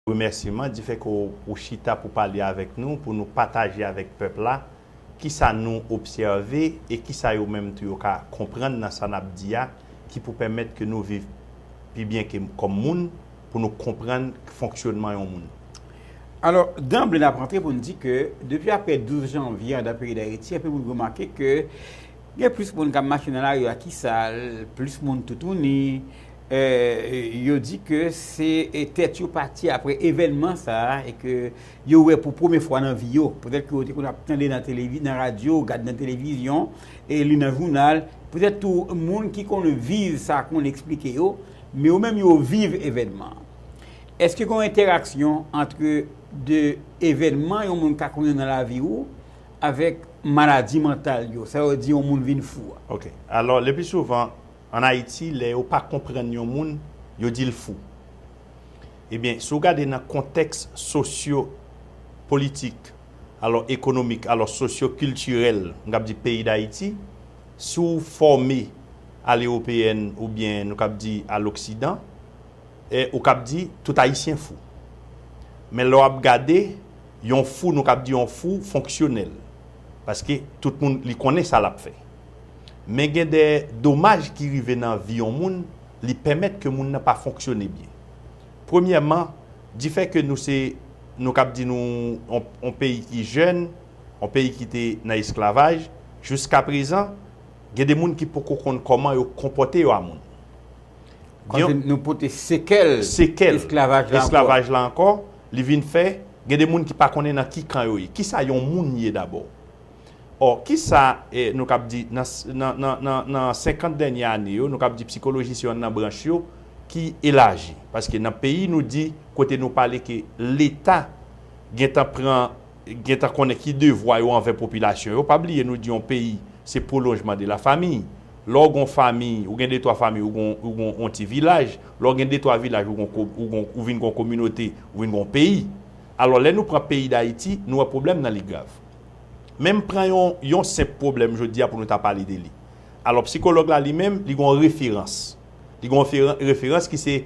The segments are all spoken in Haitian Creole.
Remèsiman di fè ke ou chita pou pale avèk nou, pou nou pataje avèk pèp la kisa nou obsève e kisa yo menm tou yo ka konprann nan sa nap di a ki pou pèmèt ke nou viv pi byen ke kòm moun, pou nou konprann fonksyonman yon moun. Alò, danble nap rantre pou n di ke depi aprè 12 janvye andan peyi Dayiti, anpil moun remake ke. Gen plis moun k ap mache nan lari a ki sal, plis moun toutouni. Yo di ke se tèt yo pati apre evènman sa a e ke yo wè pou premye fwa nan vi yo. Petèt ke yo te konn ap tande nan radyo, gade nan televizyon, li nan jounal. Petèt tou moun ki konn viv sa konn eksplike yo. Men yo menm yo viv evènman an. Eske gen yon entèraksyon antre de evènman yon moun ka konnen nan lavi ou? Avèk maladi mantal yo. Sa yo di yon moun vin fou a. Ok. Alò, lepi souvan, an Ayiti, lè yo pa konprann yon moun, yo di l fou. Ebyen, si w gade nan kontèks sosyo politik, alò ekonomik, alò sosyo kiltirèl, m kab di peyi Dayiti, si w fòme a l'européenne oubyen nou kab di a l'occident, ou kab di tout Ayisyen fou. Men lè w ap gade. Yon fou nou kab di yon fou fonksyonèl paske tout moun li konnen sa lap fè men gen de domaj ki rive nan vi yon moun li pèmèt ke moun nan pa fonksyone byen premyèman difè ke nou se nou kab di nou yon peyi ki jèn yon peyi ki te nan esklavaj jiska prezan gen de moun ki poko konn kòman yo konpòte yo a moun gen yon nou pote sekèl esklavaj la ankò. li vin fè, gen de moun ki pa konnen nan ki kan yo ye. Ki sa yon moun ye dabò? Ò, ki sa nou kab di nan senkant dènye ane yo, nou kab di psikoloji se yonn nan branch yo ki elaji. Paske nan peyi nou di, kote nou pale ke Leta gen tan pran, gen tan konnen ki devwa yo anvè popilasyon yo. Pa bliye nou di yon peyi se pwolonjman de la famiy. Lè w gon fami, ou gen de twa fami, ou gon ou gon on ti vilaj. Lè w gen de twa vilaj, ou gon ko ou gon ou vin gon kominote, ou vin gon peyi. Alò lè nou pran peyi Dayiti, nou wè pwoblèm nan li grav. Men m pran yon yon senp pwoblèm jodi a pou nou ta pale de li. Alò psikològ la li menm, li gon referans. Li gon referan referans ki se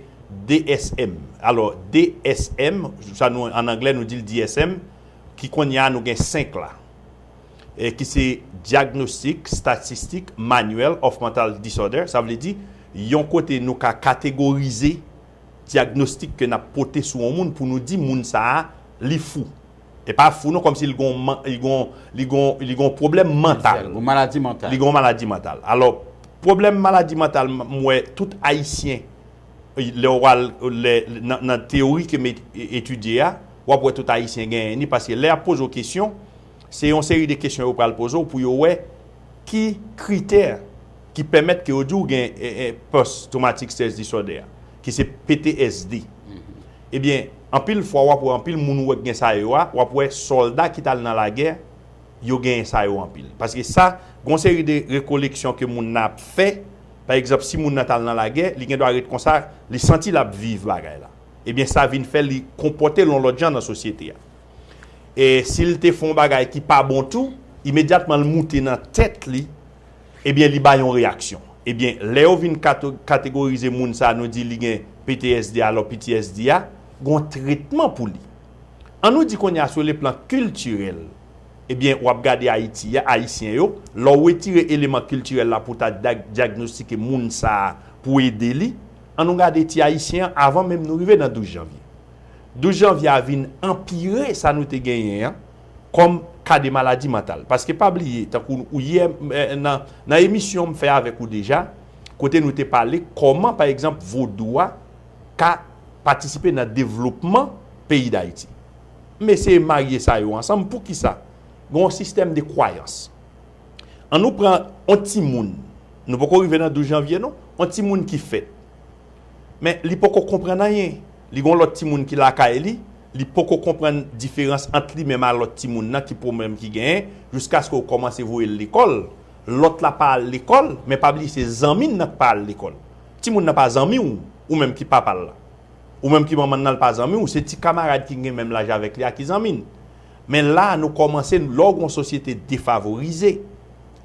DSM. Alò DSM, sa nou an anglè nou di l DSM, ki kounye a nou gen 5 la. ki se Diagnostic, Statistic, Manual of Mental Disorder, sa vle di, yon kote nou ka kategorize dyagnostik ke nap pote sou yon moun pou nou di moun sa a li fou. E pa fou non kòm si li gen yon, li gen yon, li gen yon, li gen yon pwoblèm mantal. Yon maladi mantal. Li gen yon maladi mantal. Alò, pwoblèm maladi mantal m wè tout Ayisyen. lè ou al nan teyori ke m etidye a, w ap wè tout Ayisyen genyen ni, paske lè y ap poze w kesyon, se yon seri de kesyon yo pral poze w pou yo wè ki kritè ki pèmèt ke yo di w gen post traumatic stress disorder a, ki se PTSD. Ebyen, anpil fwa w ap wè anpil moun ou wè ki gen sa yo a, w ap wè sòlda ki t al nan lagè, yo genyen sa yo anpil. Paske sa, gon seri de rekoleksyon ke moun nan ap fè, Pa egzanp, si moun nan t al nan lagè, li gendwa ret konsa, li santi l ap viv bagay la. Ebyen sa vin fè li konpòte l yon lòt jan nan sosyete a. E si l te fè yon bagay ki pa bon tou, imedyatman l moute nan tèt li, ebyen li bay yon reyaksyon. Ebyen lè yo vin kategorize moun sa nou di li gen ptsd alò ptsd a gon tretman pou li. An nou di kounye a sou le plan kiltirèl, Ebyen wap gade ayiti a ayisyen yo lè w wetire eleman kiltirèl la pou w ta dyagnostike moun sa pou w ede li an nou gade ti ayisyen an avan menm nou rive nan 12 janvye 12 janvye a vin anpire sa nou te genyen an kòm ka de maladi mantal paske pa bliye tankou ou yè nan emisyon m fè avèk ou deja kote nou te pale kòman pa egzanp vodou a ka patisipe nan devlopman peyi dayiti. mesye marye sa yo ansanm poukisa gen yon sistèm de kwayans an nou pran yon timoun nou poko rive nan 12 janvye non yon timoun ki fèt men li poko konprann anyen li gen yon lòt timoun ki lakay li li poko konprann diferans ant li menm a lòt timoun nan ki pwoblèm ki genyen jiskaske ou kòmanse voye l lekòl lòt la pa al lekòl men pa bliye se zanmi nan k pa al lekòl timoun nan pa zanmi w ou menm ki papa l la. Ou menm ki manman nan l pa zanmi w, se ti kamarad ki gen menm laj avèk li a ki zanmi n. Men la a nou kòmanse, lè w gen yon sosyete defavorize,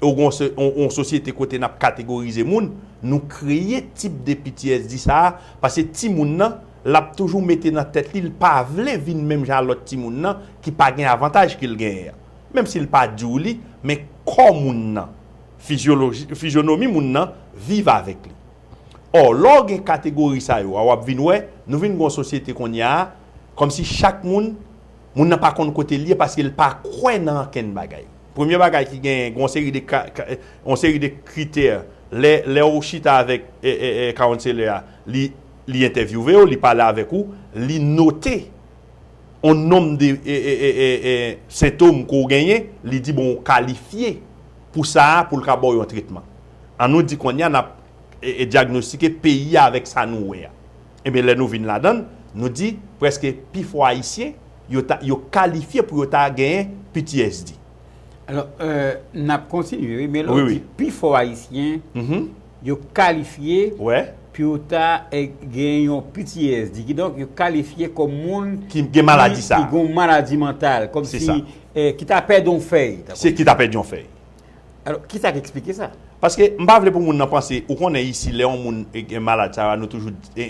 e w gen yon sosyete kote n ap kategorize moun, nou kreye tip de ptsd sa a, paske timoun nan, l ap toujou mete nan tèt li, l pa vle vin menm jan a lòt timoun nan ki pa gen avantaj ke l genyen an. Menm si l pa di w li, men kò moun nan, fizyonomi moun nan viv avèk li. Or, lè w gen kategori sa yo a, w ap vin wè, nou vin gen yon sosyete kounye a, kòmsi chak moun, moun nan pa konn kote l ye paske l pa kwè nan ankenn bagay. Premye bagay ki genyen, gen yon seri de ka, yon seri de kritè, lè, lè w chita avèk kawounselè a, li, li entèvyouve w, li pale avèk ou, li note yon nonm de sentom ke w genyen, li di bon ou kalifye pou sa a pou l ka ba w yon tretman. An nou di kounye a n ap dyagnostike peyi a avèk sa nou wè a. Enben lè nou vin ladan l, nou di prèske pi fò Ayisyen yo ta yo kalifye pou yo ta genyen ptsd. Alò, n ap kontinye wi, men lè w di pi fò Ayisyen yo kalifye pou yo ta genyen yon ptsd, kidonk yo kalifye kòm moun ki gen maladi sa a, ki gen yon maladi mantal, kòmsi ki ta pèdi yon fèy. Ki ta pèdi yon fèy. Alò, ki sa k eksplike sa? Paske, m pa vle pou moun nan panse, ou konnen isi lè yon moun gen malad sa a, nou toujou di.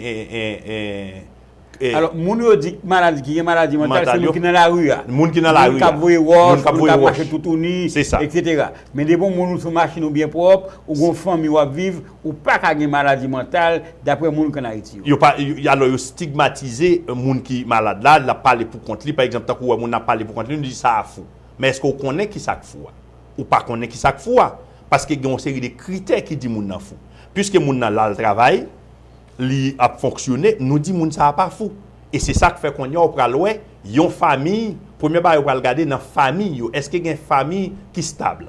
Alò, moun yo di ki malad, ki gen maladi mantal, se moun ki nan lari a. Moun ki nan lari a. Moun k ap voye wòch. Moun k ap voye wòch. Moun k ap mache toutouni. Se sa. Eksetera. Men depi yon moun ou sou machin ou byen pwòp, ou gen yon fanmi w ap viv, ou pa ka gen maladi mantal, dapre moun k ann Ayiti yo. Yo pa, alò yo stigmatize moun ki malad la, l ap pale pou kont li, pa egzanp, tankou ou wè moun nan ap pale pou kont li, nou di sa a fou. Men èske ou konnen ki sa k fou a? Ou pa konnen ki sa k fou a, paske gen yon seri de kritè ki di moun nan fou. Piske moun nan la l travay, li ap fonksyone, nou di moun sa a pa fou. E se sa k fè kounye a ou pral wè yon famiy, premye bagay ou pral gade nan famiy yo, èske gen famiy ki stab.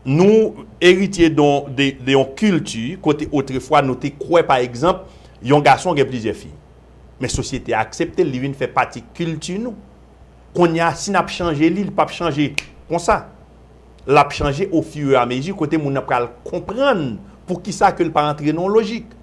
Nou eritye don de yon kilti kote otrefwa nou te kwè pa egzanp yon gason gen plizyè fi. Men sosyete a aksepte l, li vin fè pati kilti nou. Konnya si nap chanje li, li pap chanje konsa. Lap chanje o fur et à mesure kote moun nan pral konprann poukisa ke li pa antre nan yon lojik.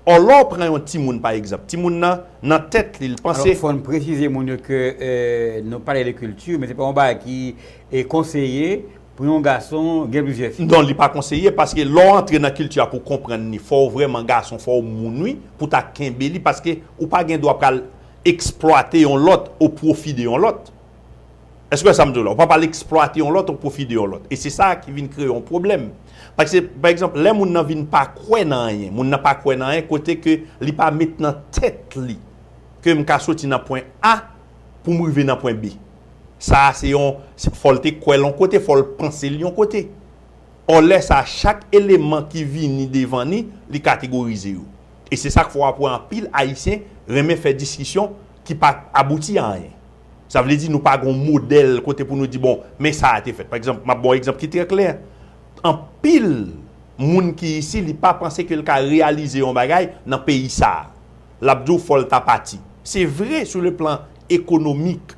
Or lè w pran yon timoun pa egzanp, timoun nan, nan tèt li, li panse. Alò fò n presize moun yo ke nou pale de kilti men se pa yon bagay ki konseye pou yon gason gen plizyè fi. Non li pa konseye paske lè w antre nan kilti a pou w konprann li fò w vrèman gason, fò w moun wi pou w ta kenbe li paske ou pa gen dwa pral Eksplwate yon lòt o pwofi de yon lòt. Èske w wè sa m di w la? Ou pa pral eksplwate yon lòt o pwofi de yon lòt. E se sa ki vin kreye yon pwoblèm. Paske, pa egzanp, lè moun nan vin pa kwè nan anyen, moun nan pa kwè nan anyen kote ke li pa met nan tèt li ke m ka soti nan pwen A pou m rive nan pwen B. Sa a se yon, fò l te kwè l yon kote, fò l panse l yon kote. Ò lè sa a, chak eleman ki vini devan ni, li kategorize yo. E se sak fè wap wè anpil ayisyen renmen fè diskisyon ki pa abouti a anyen. Sa vle di nou pa gen yon modèl kote pou nou di bon men sa a te fèt. Pa egzanp, map ba w yon egzanp ki trè klè, anpil moun ki isi li pa panse ke li ka reyalize yon bagay nan peyi sa a. Lap di w fò l ta pati. Se vre sou le plan ekonomik,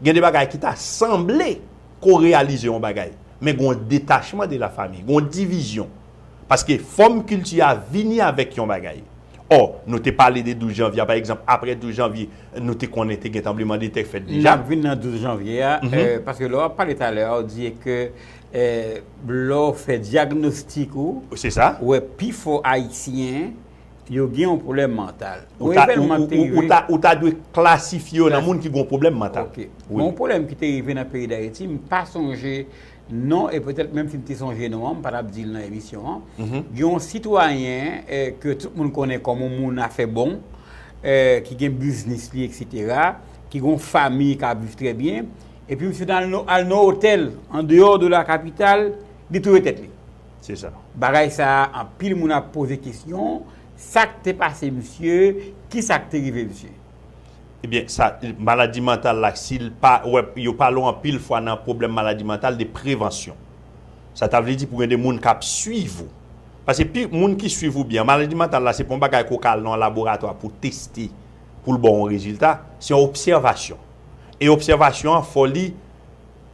gen de bagay ki ta sanble ke w reyalize yon bagay, men gen yon detachman de la famiy, gen yon divizyon. Paske fòm kilti a vini avèk yon bagay. Ò, nou te pale de 12 janvye a, pa egzanp, apre 12 janvye, nou te konnen te gen tranbleman de tè k fèt deja. N ap vin nan 12 janvye a, paske lè w ap pale talè a, ou di e ke lè w fè dyagnostik ou, ou wè pi fò Ayisyen yo gen yon pwoblèm mantal. Ou evènman ki te rive. Ou ta dwe klasifye yo nan moun ki gen yon pwoblèm mantal. Ok. Yon pwoblèm ki te rive nan peyi Dayiti, m pa sonje Non e petèt menm si m te sonje non an m pa tap di l nan emisyon an. Gen yon sitwayen ke tout moun konnen kòm yon moun afè bon, ki gen biznis li eksetera, ki gen yon fami k ap viv trè byen, epi misye ta al nan yon otèl an deyò de la kapital, li touye tèt li. Se sa. Bagay sa a anpil moun ap poze kesyon, sa k te pase misye, ki sa k te rive misye? Ebyen sa maladi mantal la si l pa wè yo pale w anpil fwa nan pwoblèm maladi mantal de prevansyon. Sa ta vle di pou gen de moun k ap suiv ou. Pase pi moun ki suiv ou byen maladi mantal la se pa yon bagay ke w ka al nan yon laboratwa pou w teste pou l ba w yon rezilta. Se yon obsèvasyon. E obsèvasyon an fò li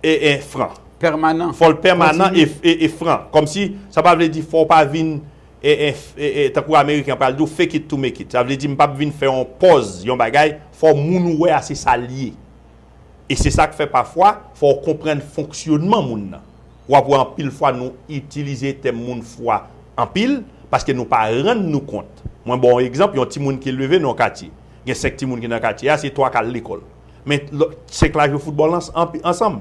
e e fran. Pèmanan. Fò l pèmanan e fran. Kòmsi sa pa vle di fò w pa vin. e tankou ameriken pral di w fake it to make it sa vle di m pap vin fè yon pòz yon bagay fò moun ou wè a se sa l ye e se sa k fè pafwa fò w konprann fonksyonman moun nan w ap wè anpil fwa nou itilize tèm moun fou a anpil paske nou pa rann nou kont mwen ba w yon egzanp yon timoun ki leve nan yon katye gen 5 timoun ki nan katye a se 3 k al lekòl men 5 la jwe foutbòl ansanm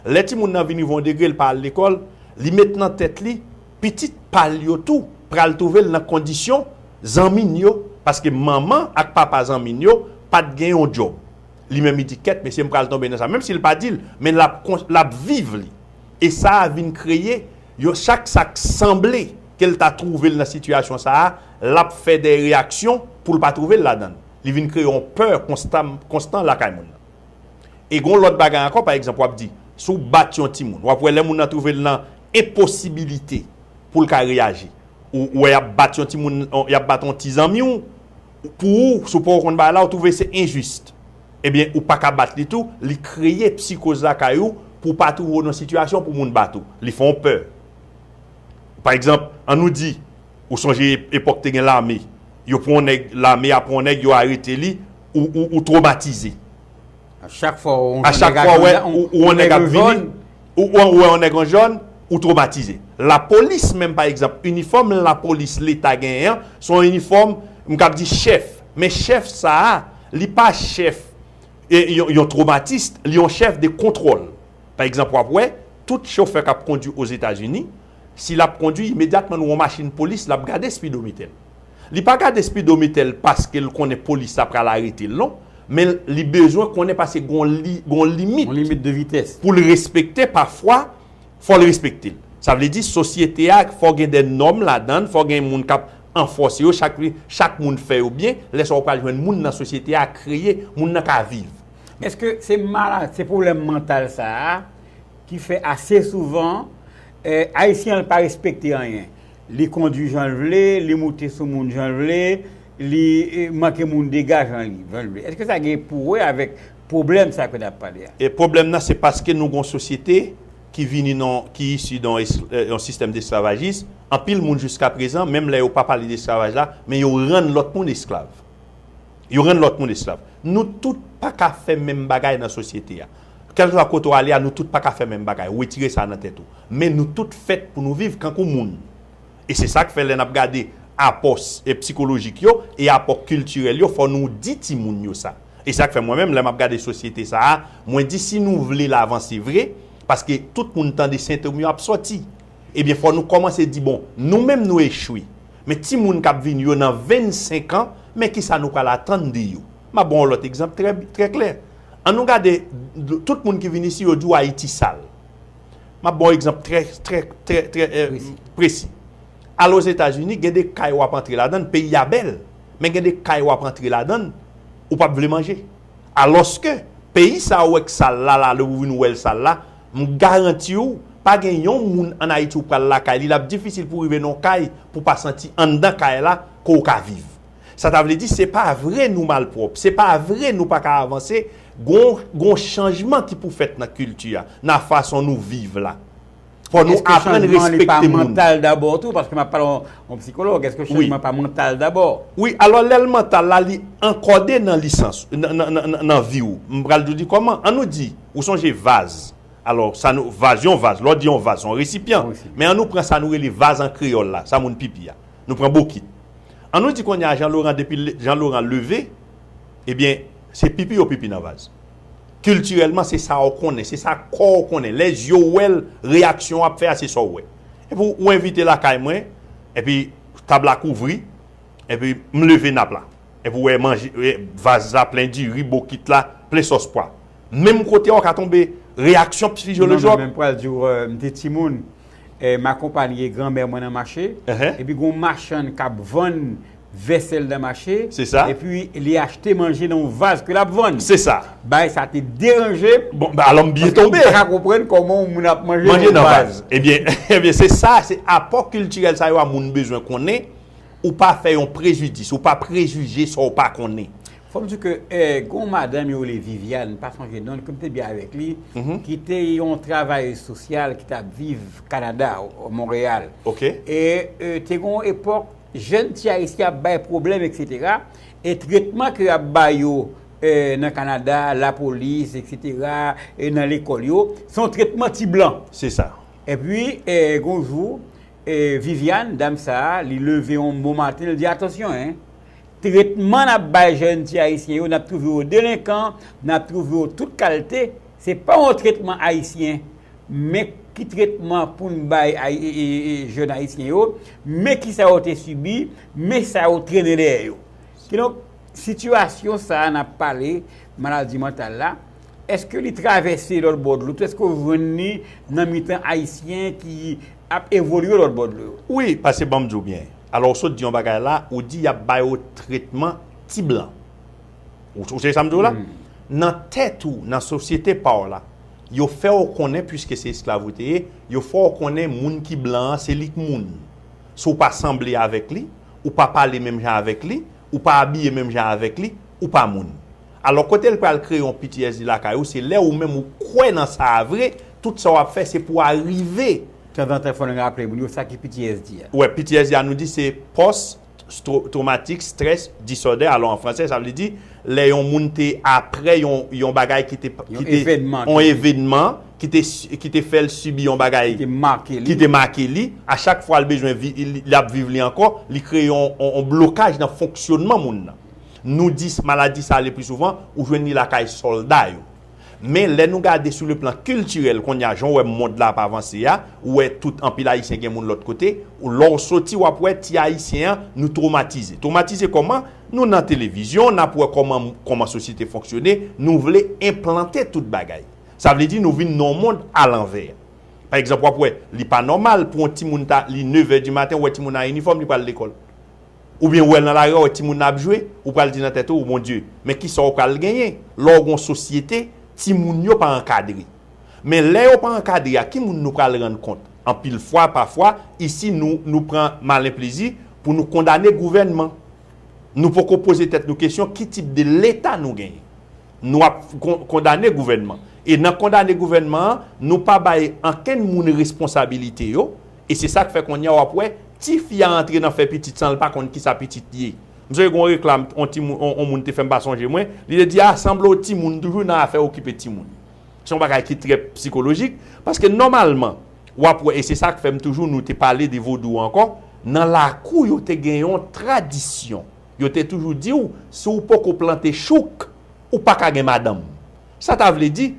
lè timoun nan vin rive yon degre l pa al lekòl li met nan tèt li pitit pa l yo tou pral twouve l nan kondisyon zanmi n yo paske manman ak papa zanmi n yo pa t gen yon djòb. Li menm li di kèt mesye m pral tonbe nan sa menm si l pa di l men l ap l ap viv li e sa a vin kreye yon chak sa k sanble ke l ta twouve l nan sitiyasyon sa a l ap fè dè reyaksyon pou l pa twouve l ladan l li vin kreye yon pè konstan konstan lakay moun nan. E gen yon lòt bagay ankò, pa egzanp, w ap di, si w bat yon timoun, w ap wè lè moun nan twouve l nan enposibilite pou l ka reyaji. Ou wè y ap bat yon timoun, y ap bat yon ti zanmi w, pou ou, si w pa w konn bagay la, ou twouve se enjis. Ebyen, ou pa ka bat li tou, li kreye psikoz lakay ou pou w pa twouve w nan sitiyasyon pou moun bat ou. Li fè w pè. Pa egzanp, an nou di, Ou sonje epok te gen lame yo pwan neg lame a pwan neg yo arete li ou tromatize. A chak fwa ou wè yon neg ap vini ou wè yon neg an jòn ou tromatize. La polis menm pa egzanp inifòm la polis leta genyen an son inifòm m kap di chèf men chèf sa a li pa chèf yon tromatist li yon chèf de kontwòl. Pa egzanp wap wè tout chofè kap kondwi ozetazini Si l ap kondwi, imedyatman nou wè yon machin polis, l ap gade spidomite l. Li pa gade spidomite l paske l konnen polis la pral arete l non, men li bezwen konnen paske gen yon limit pou l respekte pafwa, fò l respekte l. Sa vle di sosyete a fò gen de nòm ladan l, fò gen moun k ap anfòse yo, chak moun fè yo byen, lè sa a ou pral jwenn moun nan sosyete a kreye, moun nan ka viv. Èske se pwoblèm mantal sa a ki fè ase souvan Ayisyen an pa respekte anyen. Li kondwi jan l vle, li moute sou moun jan l vle, li manke moun dega jan l vle. Èske sa gen pou wè avèk pwoblèm sa ke n ap pale a? Pwoblèm nan se paske nou gen yon sosyete ki vini nan, ki isi nan yon sistèm desklavajis, anpil moun jiskaprezan, menm lè yo pa pale de esklavaj la, men yo rann lòt moun esklav. Yo rann lòt moun esklav. Nou tout pa ka fè menm bagay nan sosyete a. Kèlkeswa kote w ale a nou tout pa ka fè menm bagay, wetire sa nan tèt ou. Men nou tout fèt pou nou viv kankou moun. E se sa k fè lè n ap gade apò psikolojik yo e apò kiltirèl yo fò nou di timoun yo sa. E sa k fè mwen menm lè m ap gade sosyete sa a mwen di si nou vle l avanse vre, paske tout moun tande sentom yo ap sòti, ebyen fò nou kòmanse di bon nou menm nou echwe, men timoun k ap vini yo nan 25 an men kisa nou pral atann de yo? M ap ban w lòt egzanp trè klè. An nou gade tout moun ki vin isi yo di w Ayiti sal. M ap ban w egzanp trè presi. Al Ozetazini gen de kay w ap antre ladan l, peyi a bèl, men gen de kay w ap antre ladan l, ou pap vle manje. Alòske peyi sa ou wè k sal la, lè ou vin wè l sal la, m garanti w pa gen yon moun an Ayiti ou pral lakay li, l ap difisil pou w rive nan yon kay pou w pa santi anndan kay la ke w ka viv. Sa ta vle di se pa vre nou malpwòp, se pa vre nou pa ka avanse, gon gon chanjman ki pou fèt nan kilti a, nan fason nou viv la. Fò nou Eske aprann chanjman an li pa respekte moun. mantal dabò tou? Paske m'ap pale yon psikològ, eske Wi. chanjman pa mantal dabò? Wi, alò lè l mantal la, li ankòde nan lisans, nan nan nan nan nan vi ou. M pral di w kòman, an nou di, ou sonje vaz, alò sa nou, vaz, yon vaz, lè w di yon vaz se yon resipyan, Yon resipyan. men an nou pran sa nou rele vaz an kreyòl la, sa moun pipi a, nou pran bokit. An nou di kounye a Jean Laurent depi Jean Laurent leve, ebyen se pipi yo pipi nan vaz. Kiltirèlman se sa ou konnen, se sa kò ou konnen. Lè zye w wè l, reyaksyon w ap fè a se sa ou wè. Epi ou envite lakay mwen, epi tab la kouvri, epi m leve nap la. Epi ou wè manje, vaz la plen diri, bokit la plen sòs pwa. Menm kote a ou ka tonbe, reyaksyon psikolojik. Non men m pral di w m te timoun. M akonpanye granmè mwen nan mache, epi gen yon machann k ap vann vèsèl nan mache, epi li achte manje nan yon vaz ke l ap vann. Bagay sa a te deranje m, paske m pa ka konprann kòman yon moun ap manje nan yon vaz. Ebyen, se sa, se apò kiltirèl sa yo a moun bezwen konnen, ou pa fè yon prejidis, ou pa prejije sa ou pa konnen. Fòm di ke gen yon madanm yo rele Viviane, m pa sonje non li, ke m te byen avèk li, ki te yon travayez sosyal ki tap viv Kanada, Monreyal. Ok. E te gen yon epòk jèn ti Ayisyen ap bay pwoblèm eksetera, e tretman ke yap ba yo nan Kanada, lapolis eksetera, e nan lekòl yo, se yon tretman ti blan. Se sa. E pi gen yon jou, Viviane, dam sa a, li leve yon bon maten, li di, atansyon en! Tretman nap bay jèn ti ayisyen yo nap trouve yo delenkan, nap trouve yo tout kalte, se pa yon tretman ayisyen, men ki tretman poun bay jèn ayisyen yo, men kisa yo te sibi, men sa yo trennen dèyè yo. Kidonk, sitiyasyon sa a nap pale, maladi mantal la, eske li travèse lòt bò dlo tou, eske ou jwenn li nan mitan ayisyen ki ap evolye lòt bò dlo yo. Wi, pase banm diw byen. Alò ou sot di yon bagay la, ou di yap ba yo tretman ti blan. Ou tande sam diw la? Nan tèt ou, nan sosyete paw la, yo fèw konnen puiske se esklav ou te ye, yo fèw konnen moun ki blan an se lik moun. Si w pa sanble avèk li, ou pa pale menm jan avèk li, ou pa abiye menm jan avèk li, ou pa moun. Alò kote l pral kreye yon ptsd lakay ou se lè ou menm ou kwè nan sa a vre tout sa w ap fè se pou arive. Tanzantan fò n raple moun yo sa ki ptsd a. Wè ptsd a nou di se pòs twomatik strès disòdè alò an fransè sa vle di lè yon moun te aprè yon yon bagay ki te ki te yon evènman ki te ki te fè l sibi yon bagay ki te make li a chak fwa l bezwen viv li l ap viv li ankò li kreye yon blokaj nan fonksyònman moun nan Nou di maladi sa lepli souvan ou jwenn li lakay sòlda yo. Men lè nou gade sou le plan kiltirèl kounye a jan w wè mond la ap avanse a, ou wè tout anpil ayisyen gen moun lòt kote, lè w soti w ap wè ti ayisyen an nou twomatize. Twomatize kòman? Nou nan televizyon, n ap wè kòman kòman sosyete fonksyone, nou vle enplante tout bagay. Sa vle di nou vin nan yon mond alanvè. Pa egzanp w ap wè li pa nòmal pou yon timoun ta li nevè di maten ou wè timoun an inifòm li pral lekòl. Ou byen wè l nan lari, w wè timoun nan ap jwe, ou pral di nan tèt ou, o Mon Dye, men kisa w pral genyen lè w gon sosyete timoun yo pa ankadre. Men lè yo pa ankadre a ki moun nou pral rann kont? Anpil fwa, pafwa, isi nou, nou pran malen plezi pou nou kondane gouvènman. Nou poko poze tèt nou kesyon ki tip de Leta nou genyen. Nou ap kondane gouvènman. E nan kondane gouvènman an, nou pa bay ankenn moun responsabilite yo. E se sak fè konnya wap wè ti fi a antre nan fè pitit sanl pa konn kisa pitit ye. M sonje gon reklam on ti on moun te fè m pa sonje mwen, li te di a sanble w ti moun toujou nan afè okipe ti moun. Se yon bagay ki trè psikolojik paske nòmalman wap wè e se sak fè m toujou nou te pale de vodou ankò nan lakou yo te gen yon tradisyon yo te toujou di w si w poko plante chouk ou paka gen madanm sa ta vle di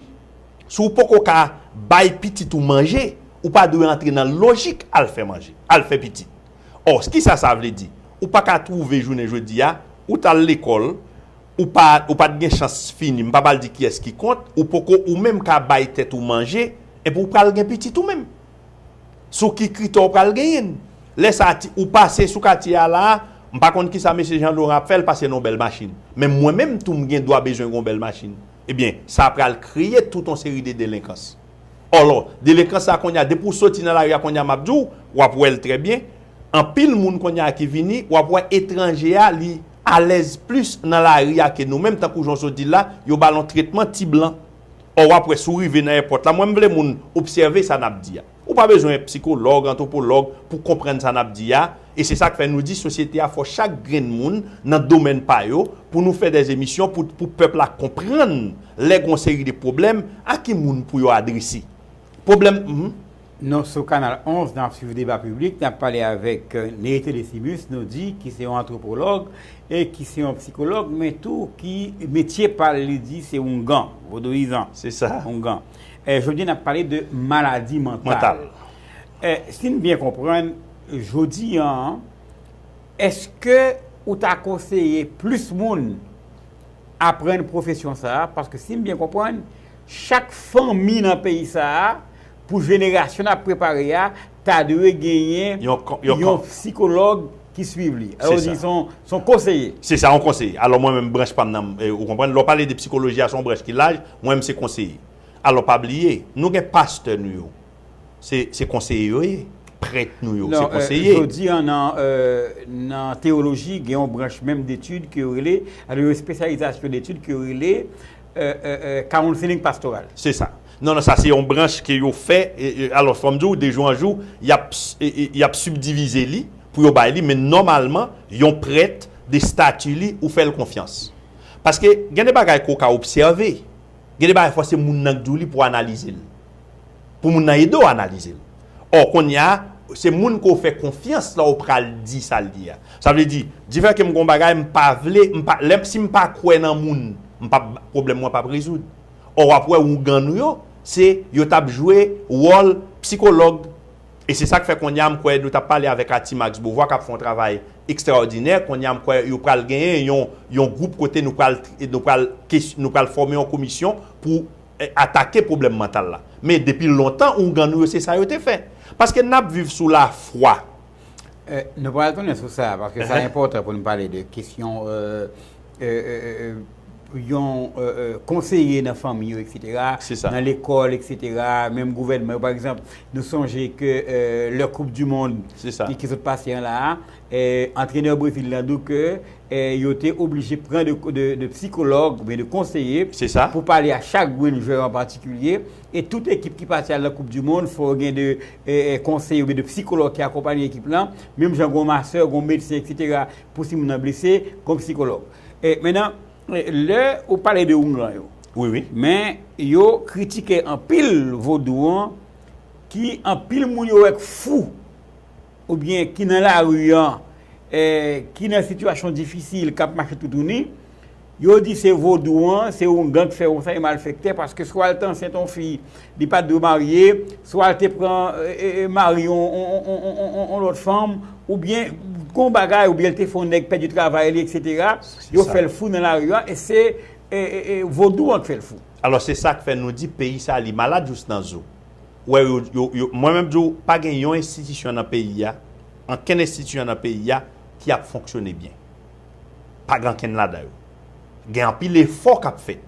Si w poko ka bay pitit ou manje, ou pa dwe antre nan lojik al fè manje, al fè pitit. Ò, ki sa sa vle di? Ou pa ka twouve jounen jodi a, ou t al lekòl, ou pa, ou pa t gen chans fini, m pa pral di kiyès ki kont, ou poko ou menm ka bay tèt ou manje, enpi w pral gen pitit ou menm. Sou ki kritè w pral genyen l? Lè sa a ti, ou pase sou katye a la a, m pa konn ki sa mesye Jan Loran ap fè, l pase nan yon bèl machin. Men mwen menm tou m gen dwa bezwen gen yon bèl machin. Ebyen, sa pral kreye tout yon seri de delenkans. Òlò, delenkans sa kounye a, depi ou soti nan lari a kounye a m ap di w, w ap wè l trè byen, anpil moun kounye a ki vini, w ap wè etranje a li alèz plis nan lari a ke nou menm, tankou jan w sot di l la, yo ba l yon tretman ti blan. Ò w ap wè si w rive nan èpòt la, mwen m vle moun obsève sa n ap di a. Ou pa bezwen èt psikològ, antwopològ pou konprann sa n ap di a, e se sa k fè nou di sosyete a fò chak grenn moun nan domèn pa yo pou nou fè dè emisyon pou pou pèp la konprann lè gon seri de pwoblèm a ki moun pou yo adrese pwoblèm. Nou sou Kanal 11, n ap swiv deba piblik, n ap pale avèk Néité Décimus nou di ki se yon antwopològ e ki se yon psikològ men tou ki metye pa l li di se oungan, vodouyizan, Se sa. oungan. Jodi nap pale de maladi mantal. Sim byen konprann jodi an eske ou ta konseye plis moun aprann pwofesyon sa a paske sim byen konprann chak fanmi nan peyi sa a pou jenerasyon nap prepare a ta dwe genyen yon psikològ ki swiv li. Alò ou di son konseye. Se sa, yon konseye. Alò mwen menm branch pa m nan, ou konprann, lè w pale de psikoloji a son branch ki laj, mwen menm se konseye. Alò pa bliye, nou gen pastè nou yo, se konseye yo ye. Prèt nou yo, se konseye. Non, jodi an nan teyoloji gen yon branch menm detid ke yo rele, alò yon espesyalizasyon detid ke yo rele, counseling pastoral. Se sa. Non non sa se yon branch ke yo fè alòs fòm di w de jou an jou yap yap sibdivize li pou yo bay li men nòmalman yon prèt de stati li ou fè l konfyans paske gen de bagay ke w ka obsève gen de bagay fò se moun nan k di w li pou w analize l pou moun nan ede w analize l ò kounye a se moun ke w fè konfyans la w pral di sa l di a sa vle di di fè ke m gon bagay m pa vle m pa lè si m pa kwè nan moun m pap pwoblèm mwen pap rezoud. Or wap wè ougan nou yo se yo tap jwe wòl psikològ e se sak fè konnya m kwè nou tap pale avèk Ati Max Beauvoir kap fè yon travay ekstraòdinè konnya m kwè yo pral genyen yon yon gwoup kote nou pral nou pral nou pral fòme yon komisyon pou atake pwoblèm mantal la men depi lontan ougan nou yo se sa yo te fè paske nap viv sou lafwa. Eh, nou pral tounen sou sa, paske sa enpòtan pou nou pale de kesyon yon konseye nan fanmi yo eksetera, nan lekòl eksetera, menm gouvènman yo. Pa egzanp, nou sonje ke lè koup di mond ki sot pase an la, antrenè Brezil la di ke yo te oblije pran de psikològ oubyen de konseye pou pale a chak grenn jwè an patikilye. E tout ekip ki pati al nan koup di mond fò yo gen de konseye oubyen de psikològ ki akonpanye ekip lan, menm jan gon masè, gon medsen eksetera pou si moun nan blese gon psikològ. Menan lè ou pale de oungan yo, men yo kritike anpil vodou an ki anpil moun yo wè k fou oubyen ki nan lari an ki nan sitiyasyon difisil k ap mache toutouni, Yo di se vodou an, se yon gang k fè konsa, yon malfèktè paske swa l te ansent yon fi li pa t dwe marye, swa l te pran mari yon lòt fanm oubyen gon bagay oubyen l te fè yon nèg pèdi travay li eksetera, yo fè l fou nan lari a e se vodou an k fè l fou. Alò se sa k fè nou di peyi sa li malad jous nan zo. Ou wè yo, mwen menm di w pa gen yon enstitisyon nan peyi a, ankenn enstitisyon nan peyi a ki ap fonksyone byen. pa gen ankenn ladan yo. Gen anpil efò k ap fèt.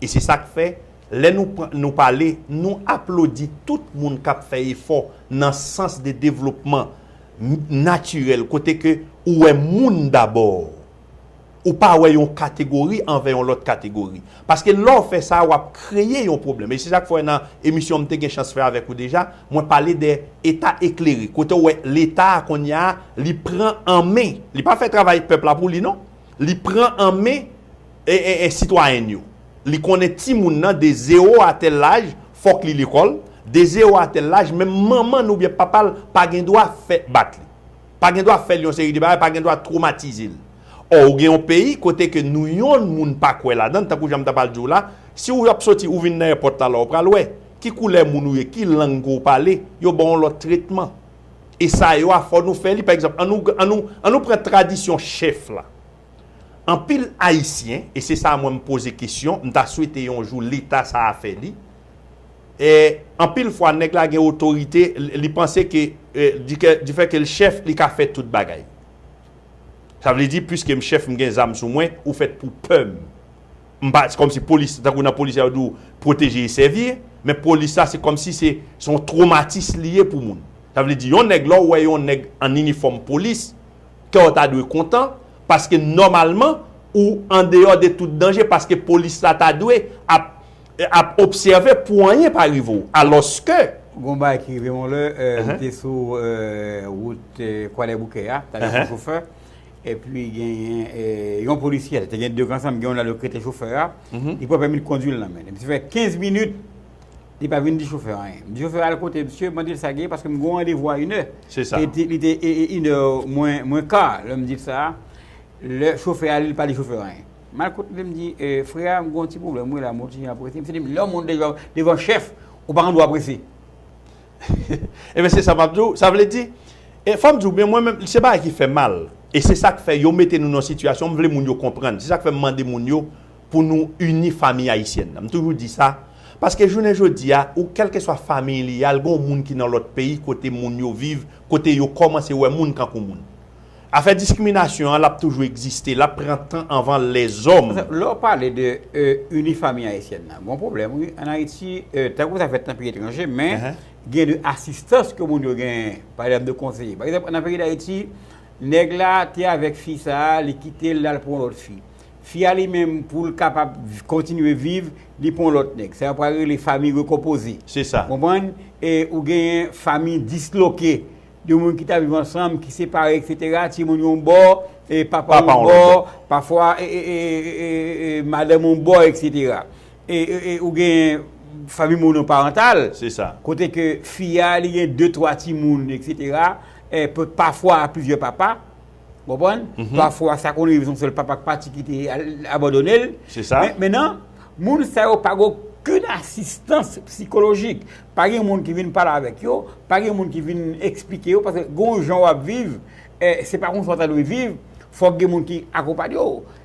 E se sa k fè, lè nou pran, nou pale, nou aplodi tout moun k ap fè efò nan sans de devlopman natirèl, kote ke ou wè moun dabò. Ou pa wè yon kategori anvè yon lòt kategori. Paske lè w fè sa, w ap kreye yon pwoblèm. E se sa k fè w wè nan emisyon m te gen chans fè avèk ou deja, mwen pale de Eta eklere. Kote w wè Leta a kounye a, li pran an men, li pa fè travay pèp la pou li non, li pran an men sitwayen l yo. Li konnen timoun nan de zewo a tèl laj, fòk li lekòl, de zewo a tèl laj, menm manman l oubyen papa l pa gen dwa fè bat li. pa gen dwa fèl yon seri de bagay, pa gen dwa twomatizel. Ò ou gen yon peyi kote ke nou yonn moun pa kwè ladann, tankou jan m ta pral di w la, si ou ap soti ou vin nan èpòt la la ou pral wè, ki koulè moun ou ye, ki lang ke w pale, yo ba w yon lòt tretman. E sa yo a fò nou fè li, pa egzanp an nou, an nou, an nou pran tradisyon chèf la. Anpil Ayisyen, e se sa mwen m poze kesyon, m ta swete yon jou leta sa a fè li, Anpil fwa nèg la gen otorite li panse ke difè ke l chèf li ka fè tout bagay. Sa vle di piske m chèf m gen zam sou mwen ou fèt pou pè m. M pa se kòmsi polis tankou nan polis yo di w pwoteje e sèvi men polis la se kòmsi se se yon twomatis li ye pou moun. Sa vle di yon nèg lè w wè yon nèg an inifòm polis kè w ta dwe kontan paske nòmalman ou andeyò de tout danje paske polis la ta dwe ap Ap obsève pou anyen pa rive w. Alòske. Gon bagay ki rive m yon lè, m te sou wout Kwadèboukè a, talè sou chofè, epi genyen yon polisyè, te gen 2 k ansanm, gen yon nan yo ki rete chofè a, li pran pèmi kondwi l nan men li. M te fè 15 minit, li pa vin di chofè a anyen. M di chofè a al kote msye, mande l sa ki gen, paske m gen yon randevou a inè. Se sa. Li te inè mwen ka, lè m di l sa, lè chofè a li, li pa di chofè a anyen. Mal kote vle m di frè a m gon ti pwoblèm wi la mwen oblije aprese m se di lè w monte devan chèf ou pa gen dwa prese Ebyen se sa map di w sa vle di e fò m di w men mwen menm se bagay ki fè mal e se sak fè yo mete nou nan sitiyasyon m vle moun yo konprann se sak fè m mande moun yo pou nou ini famiy ayisyèn nan m toujou di sa paske jounen jodi a ou kèlkeswa famiy li a l gen w moun ki nan lòt peyi kote moun yo viv kote yo kòmanse wè moun tankou moun Afè diskriminasyon an lap toujou egziste, lap pran tan anvan lèzòm. Lè w pale de Unifamie Haïtienne nan, gon pwoblèm wi an Ayiti, tankou sa fèt nan peyi etranje men gen de asistans ke moun yo genyen, pa egzanp de konseye. Pa egzanp nan peyi Dayiti, nèg la te avèk fi sa, li kite l l al pran yon lòt fi. Fi a li menm pou l kapab kontinye viv, li pran yon lòt nèg. Sa yo pral rele fami rekonpoze. Se sa. Konprann? E ou genyen fami disloke. De moun ki ta viv ansanm, ki separe etc. Timoun yon bò, papa yon bò, pafwa madanm yon bò etc. E ou gen fanmi monoparantal, kote ke fi a li gen 2, 3 timoun etc. Pafwa plizyè papa. Konprann? Pafwa sa konn rive son sèl papa ak pati ki te abandone l. Se sa. Men nan, moun sa yo pa gen okenn asistans psikolojik. Pa gen moun ki vin pale avèk yo, pa gen moun ki vin eksplike yo paske gen yon jan w ap viv, se pa konsa w ta dwe viv, fòk gen moun ki akonpanye w.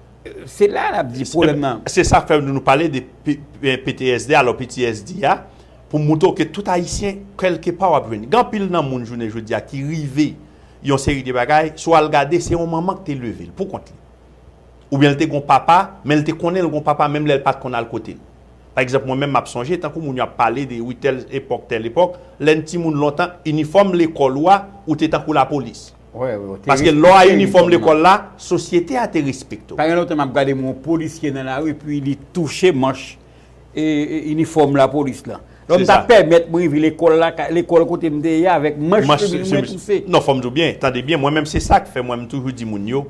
Se la n ap di pwoblèm nan. Se sa k fè nou pale de PTSD alò PTSD a pou montre w ke tout Ayisyen kèlkepa w ap jwenn. Gen anpil nan moun jounen jodi a ki rive Yon seri de bagay, si w al gade se yon manman ki te leve l pou kont li. Oubyen li te gen yon papa, men li te konnen li gen yon papa menm lè li pa t konn al kote l. Pa egzanp mwen menm m ap sonje tankou moun yo ap pale de wi tèl epòk tèl epòk, lè n timoun lontan inifòm lekòl ou a ou te tankou lapolis. Paske lè w a inifòm lekòl la, sosyete a te respekte w. Pa gen lontan m ap gade m wè yon polisye nan lari epi li touche manch inifòm lapolis la. Lò m ta pèmèt mwen rive lekòl la, lekòl kote m te ye avèk manch chemiz mwen touse. Non, fò m di w byen, tande byen, mwen menm se sa k fè mwen m toujou di moun yo,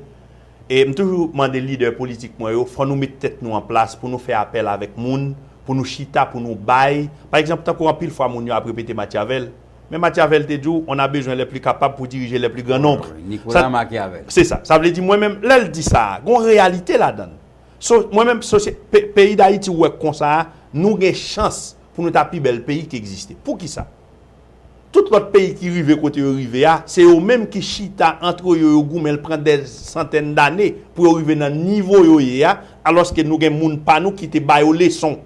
e m toujou mande lidè politik mwen yo, fò nou met tèt nou an plas pou nou fè apèl avèk moun, pou nou chita, pou nou bay. Pa egzanp, tankou anpil fwa moun yo ap repete Machiavel, men Machiavel te di w, on a besoin les plus capables pour diriger les plus grands nombres. Nicolas Machiavel. Se sa. Sa vle di mwen menm, lè l di sa a, gen yon reyalite ladan l. So mwen menm sosye pe peyi dayiti ou wè konsa a nou gen chans pou nou ta pi bèl peyi ki egziste. Poukisa? Tout lòt peyi ki rive kote yo rive a se yo menm ki chita antre yo yo goumen l pran dè santèn dane pou yo rive nan nivo yo ye a alòske nou gen moun pa nou ki te ba yo leson.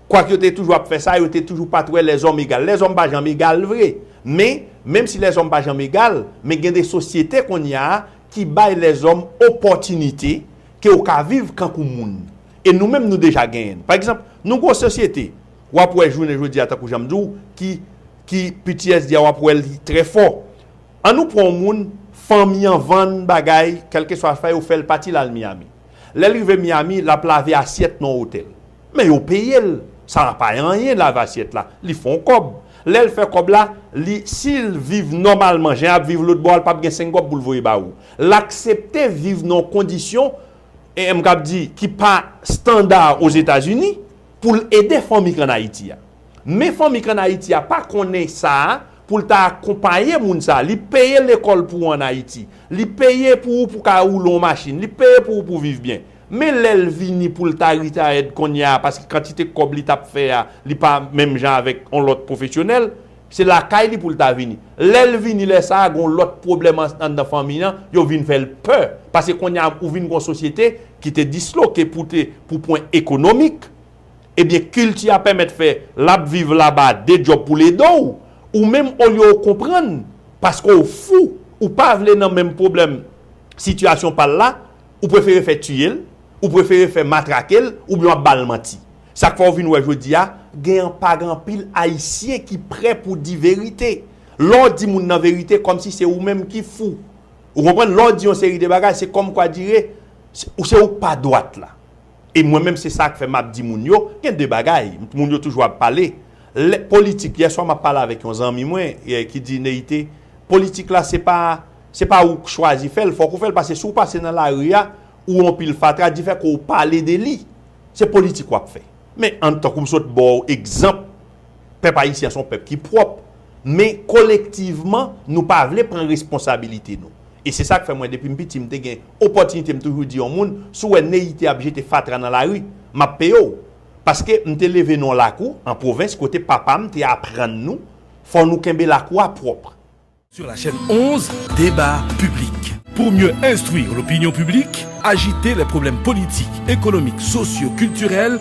Kwak yo te toujou ap fè sa, yo te toujou pa t wè lèzòm egal. Lèzòm pa janm egal vre. Men, menm si lèzòm pa janm egal, men gen de sosyete kounye a ki bay lèzòm opòtinite ke yo ka viv kankou moun. E nou menm nou deja genyen l. Pa egzanp, nou gen yon sosyete, w ap wè jounen jodi a tankou jan m di w, ki, ki ptsd a w ap wè li trè fò. Annou pran yon moun, fanmi an vann bagay, kèlkeswa sa yo fè l pati l al Miyami. Lè l rive Miami, l ap lave asyèt nan otèl. Men yo peye l. Sara pa anyen lave asyèt la. Li fè yon kòb. Lè l fè kòb la, li, si l viv nòmalman, jan y ap viv lotbò a, l pap gen senk kòb pou l voye ba ou. L aksepte viv nan yon kondisyon, e m kab di, ki pa standa Ozetazini, pou l ede fanmi k ann Ayiti a. Men fanmi k an Ayiti a pa konnen sa a pou l ta akonpaye moun sa a. Li peye lekòl pou ou an Ayiti. Li peye pou ou pou ka woule yon machin. Li peye pou ou pou viv byen. Men lè l vini pou l ta retired kounye a paske kantite kòb li t ap fè a li pa menm jan avèk yon lòt pwofesyonèl, se lakay li pou l ta vini. Lè l vini lè sa a gen yon lòt pwoblèm anndan fanmi an, yo vin fè l pè. Paske kounye a ou vin gen yon sosyete ki te disloke pou te pou pwen ekonomik. Ebyen kilti a pèmèt fè lap viv laba de djòb pou l ede w, ou menm olye w konprann paske w fou ou pa vle nan menm pwoblèm sitiyasyon pa l la ou prefere fè tiye l, ou prefere fè matrake l oubyen w ap ba l manti. Sa k fè w vin wè jodi a gen an pa gen anpil ayisyen ki prè pou di verite. Lè w di moun nan verite kòmsi se ou menm ki fou. Ou konprann lè w di yon seri de bagay se kòmkwa dire se ou k pa dwat la. E mwen menm se sak fè map di moun yo, gen 2 bagay, moun yo toujou ap pale, lè, politik, yè swa map pale avèk yon zanmi mwen ki di Neyite, politik la se pa, se pa ou k chwazi fèl, fòk ou fèl pase si w pase nan lari a, ou wè yon pil fatra, di fè kòw pale de li, se politik wap fè. Men an tankou m sot baw egzanp, pèp ayisyen se yon pèp ki pwòp, Men kolektivman nou pa vle pran responsabilite nou. E se sa k fè mwen depi m piti m te gen opòtinite m toujou di yon moun, si w wè Neyite ap jete fatra nan lari, m ap peye w. Paske m te leve nan yon lakou an pwovens kote papa m te aprann nou fò nou kenbe lakou a pwòp. Sur la chaîne 11, Débat public. Pour mieux instruire l'opinion publique, agiter les problèmes politiques, économiques, sociaux, culturels,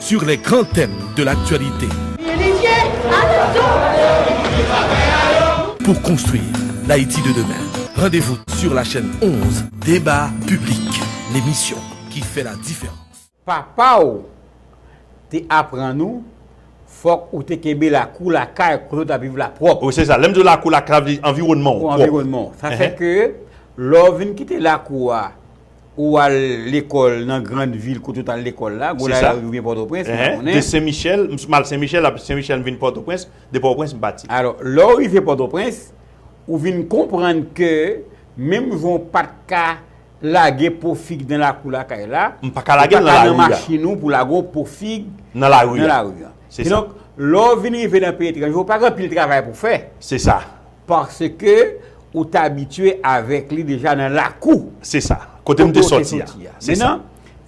Sur les grands thèmes de l'actualité. Pour construire l'Haïti de demain. Rendez-vous sur la chaîne 11, Débat Public, l'émission qui fait la différence. Papa w te aprann ou fòk ou te kenbe lakou lakay kote w t ap viv la pwòp. Wi se sa, lè m di w lakou lakay sa vle di anviwònman w pwòp. Anviwònman w. Sa fè ke lè w vin kite lakou a. Ou al lekòl nan grand vil kote ou t al lekòl la, Gonaiv ou byen Pòtoprens, m pa konnen. De Sen Michèl, m al Sen Michèl, apre Sen Michèl m vin Pòtoprens, de Pòtoprens m pati. Alò, lè ou rive Pòtoprens, ou vin konprann ke menm jan ou pa t ka lage po fig nan lakou lakay la, ou pa ka nan machin ou pou w lage yon po fig nan lari an. Kidonk, lè ou vin rive nan peyi etranje, ou pa gen anpil travay pou w fè. Se sa. Paske ou t abitye avèk li deja nan lakou. Se sa. Kote m te soti a. Se sa.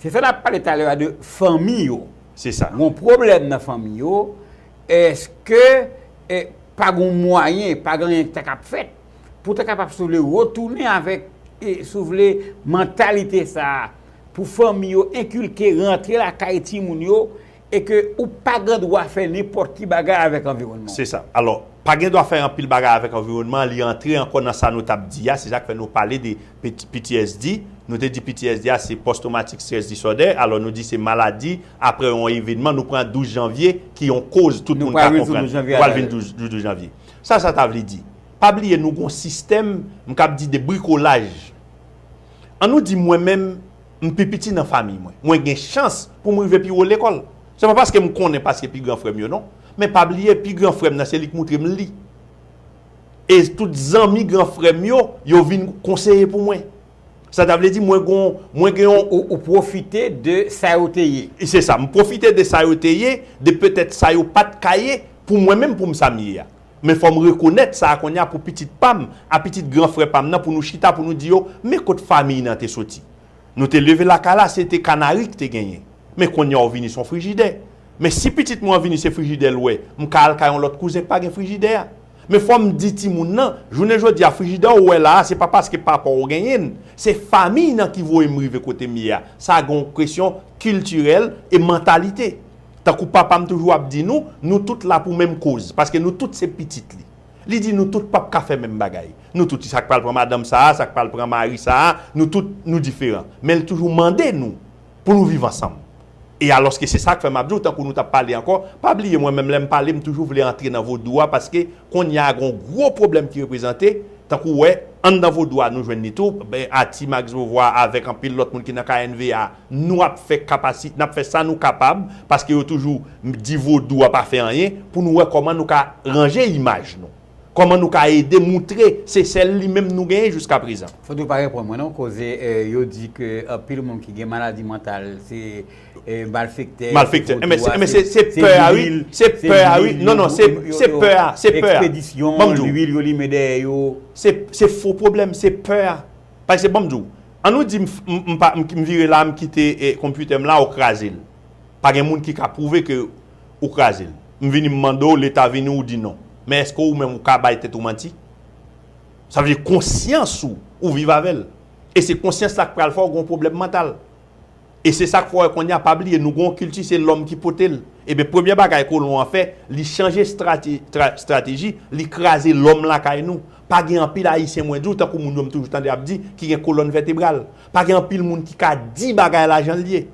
Se sa n ap pale talè a de fanmi yo. Se sa. Gon pwoblèm nan fanmi yo. Eske pa gon mwayen, pa gen anyen ki ta kab fèt pou ta kapab si w vle retounen avèk, si w vle mantalite sa pou fanmi yo enkilke rantre lakay timoun yo. E ke ou pa gen dwa fè nenpòt ki bagay avèk anviwònman an. Se sa. Alò, pa gen dwa fè anpil bagay avèk anviwònman an, li antre ankò nan sa nou t ap di a, se sa k fè nou pale de PTSD. Nou te di PTSD a se Post Traumatic Stress Disorder, alò nou di se maladi aprè yon evenman, nou pran 12 janvye ki yon koz tout moun ka konprann. Nou pral vin sou 12 janvye a. Nou pral vin sou 12 janvye. Sa sa ta vle di? Pa bliye nou gen yon sistèm, m kab di de brikolaj. An nou di mwen menm, M pi piti nan famiy mwen. Mwen gen chans pou m rive pi wo lekòl. Se pa paske m konnen paske pi gran frè m yo non. Men pa bliye pi gran frè m nan se li k moutre m li. E tout zanmi gran frè m yo, yo vin konseye pou mwen. Sa ta vle di mwen gon, mwen gen yon. Ou pwofite de sa yo te ye. Se sa. M pwofite de sa yo te ye, de petèt sa yo pa t ka ye pou mwen menm pou m sa m ye a. Men fòm rekonèt sa konnya pou pitit pam a pitit gran frè pam nan pou nou chita pou nou di yo men kot famiy nan te soti nou te leve lakay la se te kanari ki te genyen men konnya ou vini son frijidè men si pitit mwen an vini se frijidè l wè m ka al kay yon lòt kouzen k pa gen frijidè a men fòm di timoun nan jounen jodia frijidè ou wè la a se pa paske papaw ou genyen n se famiy nan ki voye m rive kote m ye a sa gen yon kesyon kiltirèl e mantalite. Tankou Papa m toujou ap di nou, nou tout la pou menm koz, paske nou tout se pitit li. Li di nou tout pap ka fè menm bagay. Nou tout, sa k pral pran madanm sa a, sa k pral pran mari sa a, nou tout, nou diferan. Men l toujou mande nou pou nou viv ansanm. E alòske se sa k fè m ap di w, tankou nou t ap pale ankò, pa bliye mwen menm lè m pale m toujou vle antre nan vodou a paske kounye a gen yon gwo pwoblèm ki reprezante, tankou w wè, anndan vodou a nou jwenn li tou, Atimax Vovwa avèk anpil lòt moun ki nan knva a. Nou ap fè kapasi, n ap fè sa nou kapab, paske yo toujou di vodou a pa fè anyen, pou nou wè kòman nou ka ranje imaj nou. Kòman nou ka ede moutre se sèl li menm nou genyen jiska prezan. Fout ou pa reponn mwen non koze yo di ke anpil moun ki gen maladi mantal se malfektè, se vodou a, se lwil yo ekspedisyon, lwil yo limen dèyè yo. Se fo pwoblèm, se pè a. Pase banm di w, an nou di m pa m vire la m kite konpitè m la ou kraze l. Pa gen moun ki ka pwouve ke ou kraze l. M vini m mande w leta vini ou di non. Men eske ou menm ou ka bay tèt ou manti? Sa vle di konsyans ou, ou viv avè l. E se konsyans la k pral fè w gen yon pwoblèm mantal. E se sa k fè w wè kounye a, pa bliye nou gen yon kilti se lòm ki pote l. Eben premye bagay kolon an fè, li chanje estrateji, li kraze lòm lakay nou. Pa gen anpil Ayisyen mwen di w, tankou moun yo m toujou tande ap di, ki gen kolòn vètebral. Pa gen anpil moun ki ka di bagay la jan l ye.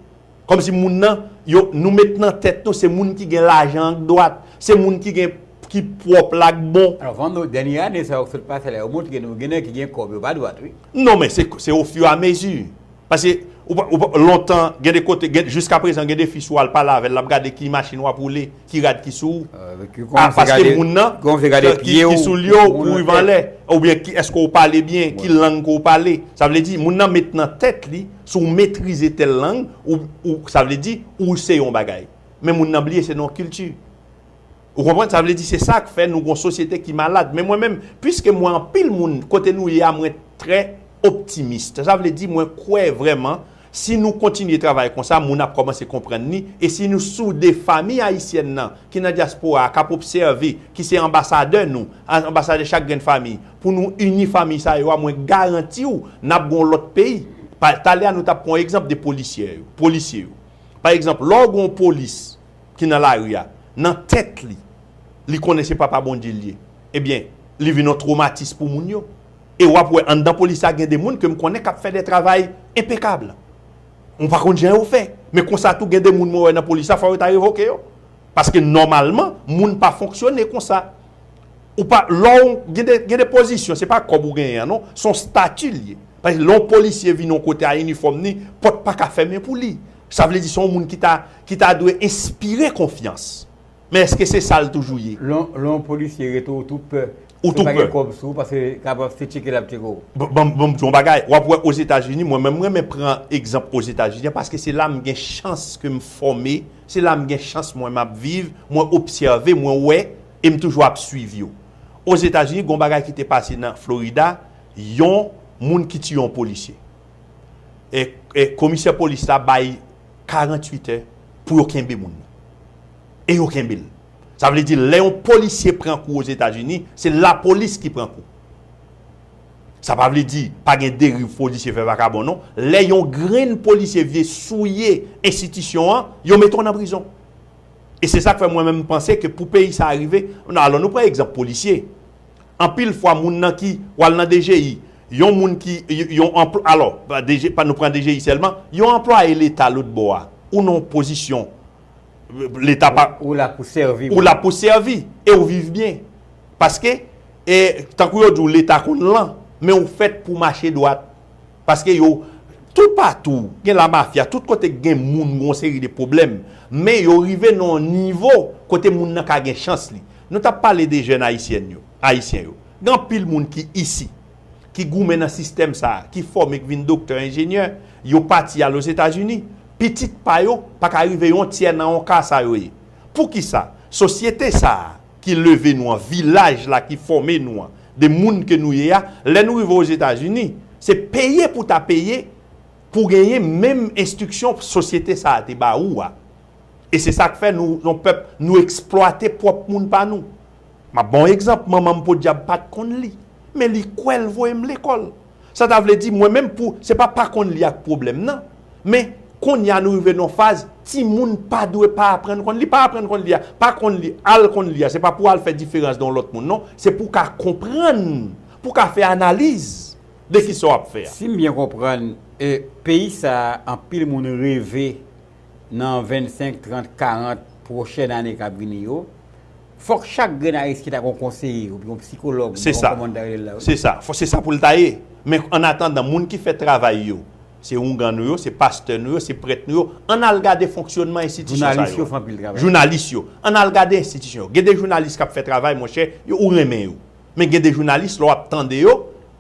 Kòmsi moun nan, yo, nou met nan tèt nou se moun ki gen lajan an k dwat, se moun ki gen, ki pwòp la k bon. Avan nou, dènye ane sa yo k sot pase la yo montre nou gen nèg ki gen kòb yo pa dwat wi. Non men se ofiramezi. Paske ou pa, ou pa, lontan, gen de kote, gen, jiskaprezan gen de fi si w al pale avè l l ap gade ki machin w ap woule, ki rad ki sou ou. Ki kòmanse gade, ki kòmanse gade pye w, ki soulye w pou w rive anlè. Oubyen ki, èske w pale byen, ki lang ke w pale. Sa vle di, moun nan met nan tèt li, si w metrize tèl lang, ou, ou, sa vle di, ou se yon bagay. Men moun nan bliye se nan yon kilti. Ou konprann? Sa vle di se sa k fè nou gon sosyete ki malad. Men mwen menm, piske m wè anpil moun kote nou ye a mwen trè optimiste. Sa vle di mwen kwè vrèman si nou kontinye travay konsa moun ap kòmanse konprann ni e si nou soude fami ayisyèn nan ki nan dyaspora a k ap obsève ki se anbasadè nou, anbasadè chak grenn fami pou nou ini fami sa yo a mwen garanti w n ap gon lòt peyi. Pa talè a nou t ap pran yon egzanp de polisyè yo, polisye yo. Pa egzanp lè w gon polis. ki nan lari a, nan tèt li, li konnen se papa Bondye li ye, ebyen, li vin yon twomatis pou moun yo. E w ap wè anndan polis la gen de moun ke m konnen k ap fè de travay enpekab. Mwen pa konn jan yo fè, men konsa tou gen de moun mwen wè nan polis la fò yo ta revoke yo. Paske nòmalman, moun pa fonksyone konsa. Ou pa, lò w, gen de, gen de pozisyon, se pa kòb ou genyen an non, se yon stati li ye. Lè yon polisye vin yon kote a inifòm ni, pòt pa ka fèmen pou li. Sa vle di se yon moun ki ta ki ta dwe enspire konfyans. Men eske se sa l toujou ye? Lè lè yon polisye rete ou tou pè. Ou tou pè. Si w pa gen kòb sou ou paske kapab se tcheke l ap tcheke w. Ban ban m di w yon bagay, w ap wè Ozetazini mwen menm m renmen pran egzanp Ozetazini an paske se la m gen chans ke m fòme, se la m gen chans mwen m ap viv, mwen obsève, mwen wè e m toujou ap suiv yo. Ozetazini gen yon bagay ki te pase nan Florida, yon moun ki tiye yon polisye. komisè polis la bay 48 è pou yo kenbe moun nan. E yo kenbe l. Sa vle di lè yon polisye pran kou Ozetazini, se lapolis ki pran kou. Sa pa vle di pa gen deriv polisye fè vakabon non. Lè yon grenn polisye vye souye enstitisyon an, yo mete w nan prizon. E se sa k fè mwen menm m panse ke pou peyi sa a rive, alò nou pran egzanp polisye. Anpil fwa moun nan ki pwal nan DGI, yon moun ki, yon anpl, alò, DG, nou pran DGI sèlman, yon anplwaye leta lòt bò a, ou nan yon pozisyon leta pa, Ou la pou sèvi. Ou la pou sèvi e ou viv byen. Paske, e, tankou yo di w leta konn lan, men ou fèt pou w mache dwat. Paske yo Tou patou gen la mafia tout kote k gen moun gon seri de pwoblèm men yo rive nan yon nivo kote moun nan ka gen chans li nou tap pale de jèn ayisyèn yo ayisyen yo gen anpil moun ki isi ki goumen nan sistèm sa ki fòme k vin doktè enjenyè yo pati al ozetazini pitit pa yo paka rive yon tyè nan yon ka sa yo ye poukisa sosyete sa. ki leve nou an, vilaj la ki fòme nou an, de moun ke nou ye a, lè nou rive Ozetazini, se peye pou ta peye pou genyen menm enstriksyon sosyete sa a te ba ou a. E se sa k fè nou yon pèp, nou eksplwate pwòp moun pa nou. M ap ba w egzanp, manman m podyab pa t konn li, men li kwè l voye m lekòl. Sa ta vle di mwen menm pou se pa pa konn li ak pwoblèm nan, men konnya nou rive nan yon faz timoun pa dwe pa aprann konn li, pa aprann konn li a, pa konn li, al konn li a se pa pou al fè diferans de yon lòt moun non, se pou w ka konprann, pou w ka fè analiz de kisa w ap fè a. Si m byen konprann, peyi sa a anpil moun reve nan 25, 30, 40 pwochèn ane k ap vini yo, Fòk chak grenn Ayisyen ta gen yon konseye oubyen yon psikològ, m pa konn kòman yo ta rele l la wi. Se sa, se sa, se sa pou l ta ye. Men annatandan, moun ki fè travay yo, se oungan nou yo, se pastè nou yo, se prèt nou yo, ann al gade fonksyònman enstitisyon sa yo. Jounalis yo fè anpil travay. Jounalis yo. Ann al gade enstitisyon yo. Gen de jounalis k ap fè travay, monchè, yo ou renmen yo. Men gen de jounalis, lè w ap tande yo,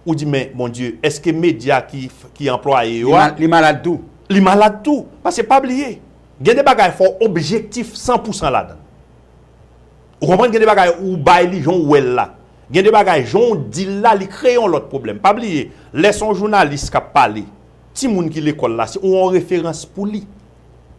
ou di men, bondye, èske medya ki anplwaye yo a. Li malad tou. Li malad tou. Pase pa bliye, gen de bagay fò w objektif san pou san ladan l. Ou konprann gen de bagay ou bay li jan ou wè l la. Gen de bagay jan ou di l la li kreye yon lòt pwoblèm. Pa bliye lè se yon jounalis k ap pale, timoun ki lekòl la se ou yon referans pou li.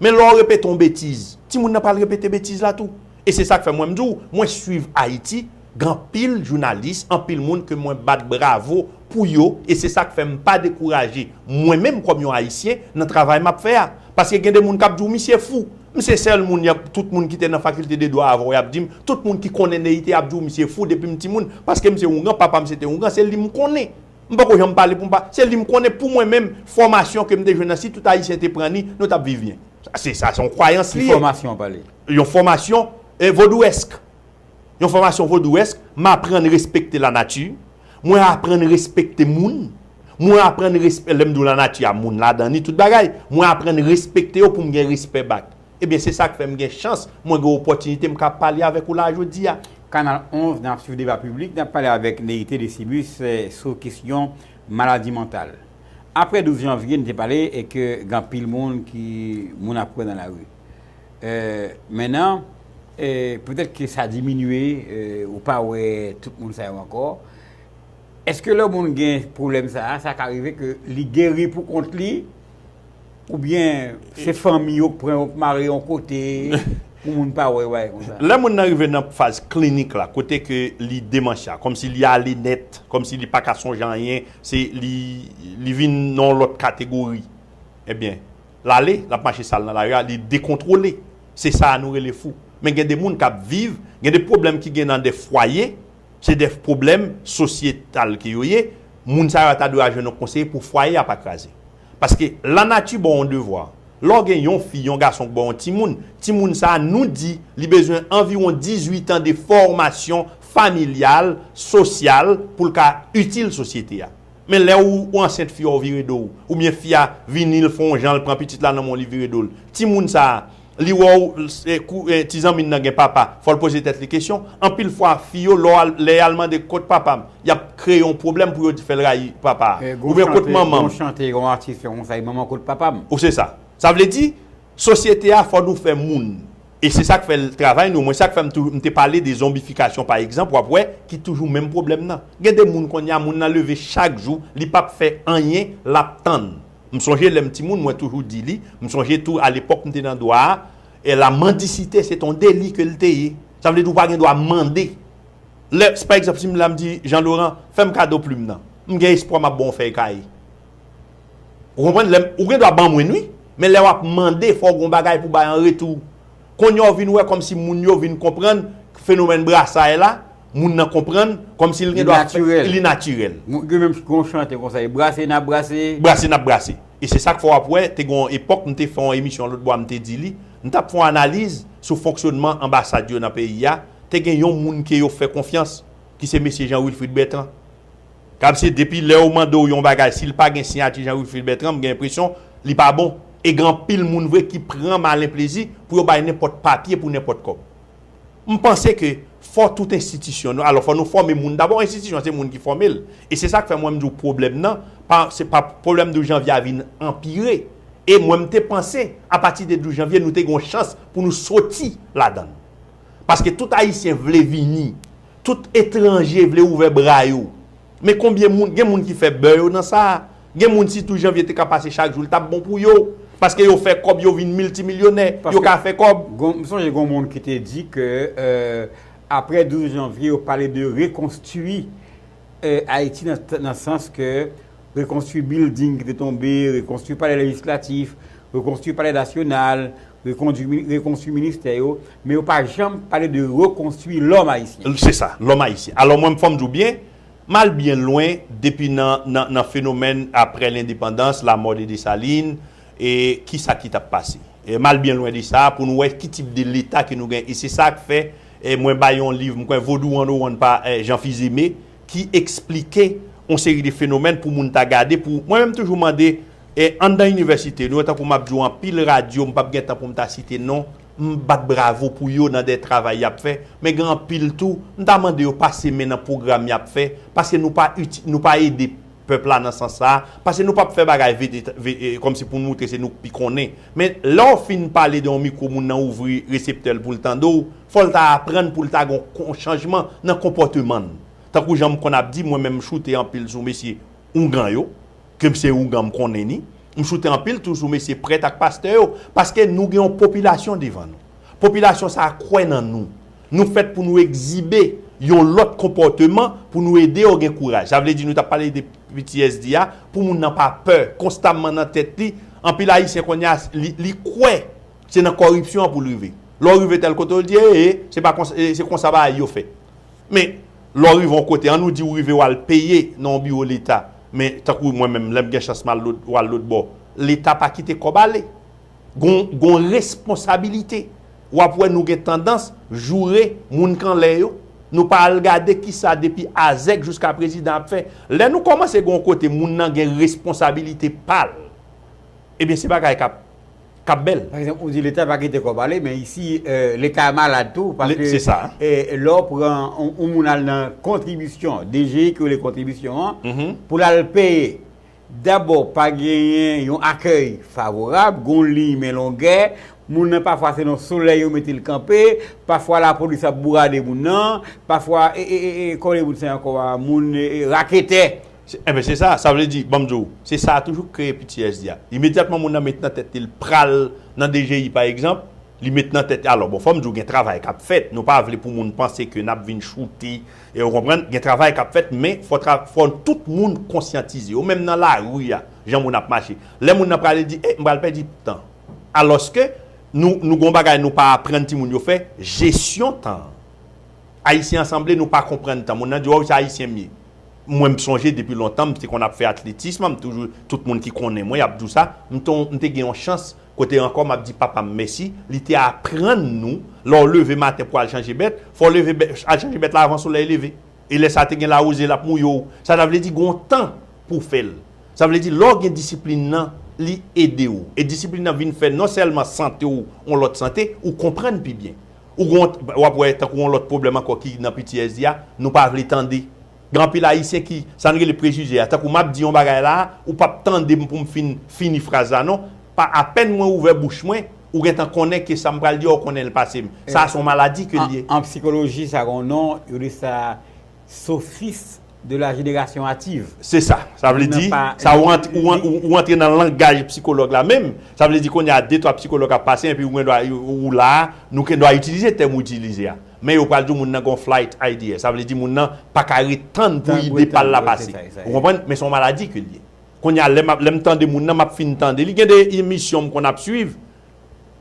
Men lè w repete yon betiz, timoun nan pral repete betiz la tou. E se sa k fè mwen m di w mwen suiv Ayiti Gen anpil jounalis, anpil moun ke mwen bat bravo pou yo e se sa k fè m pa dekouraje mwen menm kòm yon Ayisyen nan travay m ap fè a. Paske gen de moun k ap di w misye fou. M se sèl moun y ap, tout moun ki te nan fakilte de dwa avan w y ap di m, tout moun ki konnen Neïthe ap di w misye fou depi m timoun. Paske m se oungan, papa m se te oungan, se li m konnen. M poko janm pale pou m pa, se li m konnen pou mwen menm, fòmasyon ke m te jwenn nan si tout Ayisyen te pran ni, nou t ap viv byen. Sa se sa se yon kwayans li ye. Ki fòmasyon w pale? Yon fòmasyon vodouyèsk. yon fòmasyon vodouesk, m aprann respekte lanati, mwen aprann respekte moun, mwen aprann respè, lè m di w lanati a moun ladan li, tout bagay, mwen aprann respekte yo pou m gen respè back. Ebyen se sa k fè m gen chans, mwen gen opòtinite m ka pale avèk ou la a jodi a. Kanal 11, N ap swiv deba piblik, n ap pale avèk Neite Desibus sou kesyon maladi mantal. Aprè 12 janvye, n te pale ke gen anpil moun ki moun ap wè nan lari. Men nan, petèt ke sa diminye, ou pa wè tout moun sa yo ankò. Eske lè yon moun gen pwoblèm sa a, sa ka rive ke li geri pou kont li? Oubyen se fanmi yo k pran yo k mare yon kote pou moun pa wè yo bagay konsa? Lè moun nan rive nan faz klinik la, kote ke li demansya, kòmsi li ale nèt, kòmsi li pa ka sonje anyen, se li vin nan yon lòt kategori. Ebyen, l ale, l ap mache sal nan lari a, li dekontwole. Se sa a nou rele fou. Men gen de moun k ap viv, gen de pwoblèm ki gen nan de fwaye, se de pwoblèm sosyetal ke yo ye, moun sa yo a ta dwe al jwenn yon konseye pou fwaye a pa kraze. Paske lanati ba w yon devwa. Lè w gen yon fi, yon gason k ba w yon timoun, timoun sa a, nou di li bezwen anviwon 18 an de fòmasyon familyal, sosyal, pou l ka itil sosyete a. Men lè ou ou ansent fi a ou vire do ou, oubyen fi a vini l fè yon jan l pran pitit la nan men w li vire do l. Timoun sa a, li wè w se kou ti zanmi n nan gen papa, fò l poze tèt li kesyon. Anpil fwa fi yo lè w al lè y al mande kot papa m, y ap kreye yon pwoblèm pou yo fè l rayi papa a. Oubyen kot manman m. Gon chante, gon atis fè konsa, e manman w kot papa m. Ou se sa. Sa vle di, sosyete a fò nou fè moun. E se sak fè l travay nou mwen sak fè m toujou m te pale de zonbifikasyon pa egzanp wap wè ki toujou menm pwoblèm nan gen de moun konnya moun nan leve chak jou li pap fè anyen lap tann m sonje lèm ti moun mwen toujou di li m sonje tou alepòk m te nan dwa a e la mandisite se t on deli ke l te ye sa vle di w pa gen dwa mande lè pa egzanp si m la m di Jean Laurent fè m kado plim nan m gen espwa map ba w on fèy kaye Ou konprann? Lè m, ou gen dwa ban mwen n wi, men lè w ap mande fò w gen yon bagay pou w bay an retou. Konnya w vin wè kòmsi moun yo vin konprann fenomèn brasaye la, moun nan konprann, kòmsi l gen dwa fè, li natirèl. Mwen gen menm gen yon chante konsa, e brase n ap brase. Brase n ap brase. E se sa k fè w ap wè, te gen yon epòk m te fè yon emisyon lòt bwa m te di li, m t ap fè yon analiz sou fonksyònman anbasad yo nan peyi a, te gen yon moun ke yo fè konfyans ki se Mesye Jean Wilfrid Bertrand. Gab se depi lè yo mandew yon bagay sil pa gen siyati Jean Wilfrid Bertrand m gen enpresyon li pa bon e gen anpil moun vre ki pran malen plezi pou yo bay nenpòt papye pou nenpòt kòb m panse ke fò tout enstitisyon nou alò fò nou fòme moun dabò enstitisyon se moun ki fòmel e se sak fè mwen m diw pwoblèm nan pa se pa pwoblèm 12 janvye a vin anpire e mwen m te panse apati de 12 janvye nou te gen yon chans pou nou soti ladann paske tout ayisyen vle vini Tout etranje vle ouvè bra yo. Men konbyen moun, gen moun ki fè bè yo nan sa. Gen moun si tou Janvier te ka pase chak jou li tap bon pou yo. Paske yo fè kòb yo vin miltimilyonè. Yo ka fè kòb. M sonje gon moun ki te di ke aprè 12 Janvier yo pale de rekonstwi Ayiti nan sans ke rekonstwi bilding ki te tonbe, rekonstwi palè lejislatif, rekonstwi palè nasyonal, rekonstwi ministè yo, men yo pa janm pale de rekonstwi lòm ayisyen. Se sa, lòm ayisyen. Alò mwen fò m di w byen, m al byen lwen depi nan fenomèn aprè lendepandans, lamò de Desalin, e ki sa ki t ap pase. M al byen lwen de sa pou nou wè ki tip de leta ke nou gen. E se sa k fè mwen bay yon liv, m kwè Vodou 101 pa Jean Fils-Aimé, ki eksplike yon seri de fenomèn pou moun ta gade pou, mwen menm toujou mande e anndan inivèsite nou, tankou m ap di w anpil radyo m p ap gen tan pou m ta site non, m bat bravo pou yo nan de travay y ap fè, men gen anpil tou m ta mande yo pase men nan pwogram y ap fè, paske nou pa iti, nou pa ede. pèp la nan sans sa a, pase nou pap fè bagay vit et ve e kòm si pou nou moutre se nou k pi konnen. Men, lè w fin pale de yon mikwo moun nan ouvri reseptè l pou l tande w, fò l ta aprann pou l ta gon kon chanjman nan konpòteman l. Tankou jan m konn ap di, mwen menm m choute anpil sou mesye oungan yo, ke m se oungan m konnen ni, m choute anpil tou sou mesye prèt ak pastè yo, paske nou gen yon popilasyon devan nou. Popilasyon sa a kwè nan nou. Nou fèt pou nou egzibe yon lòt konpòteman pou nou ede yo gen kouraj. Sa vle di nou ta pale de ptsd a pou moun nan pa pè konstamman nan tèt li. Anpil Ayisyen kounye a li kwè se nan kòripsyon an pou l rive. Lè w rive tèl kote yo di ee se pa konsa se konsa bagay yo fèt. Men lè w rive yon kote an nou di ou rive w al peye nan yon biwo leta men tankou mwen menm lè m gen chans m al lòt bò leta pa kite kòb ale. Gon responsabilite. wap wè nou gen tandans joure moun kanlè yo, nou pa al gade kisa depi Azèk jouska prezidan ap fè, lè nou kòmanse gen yon kote moun nan gen responsabilite pal ebyen se bagay kap kap bèl. Pa egzanp ou di leta pa kite kòb ale men isi leta malad tou paske lè w pran yon moun al nan kontribisyon DGI ki rele kontribisyon an pou lal peye Dabò, pa genyen yon akèy favorab, gon liy men longè, moun nan pafwa se nan solèy yo mete l kanpe, pafwa lapolis ap bourade moun nan, pafwa e e e e kole moun sa ankò a, moun e e raketè. Se enben se sa, sa vle di, ban m di w, se sa toujou k kreye ptsd a. Imedyatman moun nan met nan tèt li l pral nan dgi pa egzanp, li met nan tèt, alò bon fò m di w gen travay k ap fèt, nou pa vle pou moun panse ke n ap vin choute E ou konprann, gen travay k ap fèt men fò tra, fò tout moun konsyantize yo. Menm nan lari a, jan moun ap mache. Lè moun nan prale di, e, m pral pèdi tan. Alòske, nou, nou gen yon bagay nou pa aprann timoun yo fè, jesyon tan an. Ayisyen an sanble nou pa konprann tan. Moun nan di, waww se Ayisyen m ye. Mwen m sonje depi lontan m te konn ap fè atletism, m toujou, tout moun ki konnen mwen y ap di w sa, m te yon, m te gen yon chans Kote ankò m ap di papa m mèsi, li te aprann nou, lè w leve maten pou w al chanje bèt, fò w leve al chanje bèt la avan solèy leve. E lè sa te gen lawouze l ap mouye w. Sa ta vle di gen yon tan pou w fè l. Sa vle di lè w gen disiplin nan, li ede w. E disiplin nan vin fè non sèlman sante w yon lòt sante, ou konprann pi byen. Ou gen yon, w ap wè tankou yon lòt pwoblèm ankò ki nan ptsd a, nou pa vle tande. Gen anpil Ayisyen ki, sa n rele prejije a, tankou m ap di yon bagay la a, ou pap tande m pou m fin fini fraz la non, pa apèn mwen ouvè bouch mwen, ou gen tan konnen ke sa m pral di a ou konnen l pase m. Sa a se yon maladi ke l ye. An psikoloji sa gen yon non, yo rele sa sofis de la jenerasyon ativ. Se sa. Sa vle di, sa ou rantre nan langaj psikològ la menm, sa vle di kounye a de twa psikològ ap pase enpi ou gen dwa, ou la a, nou gen dwa itilize tèm ou itilize a. Men yo pral di w moun nan gen yon flight idea. Sa vle di moun nan pa ka ret tann pou ide pa l la pase. Ou konprann? Men se yon maladi ke l ye. Kounye a, lè m ap, lè m tande moun nan, m ap fin tande li. Gen de emisyon m konn ap suiv,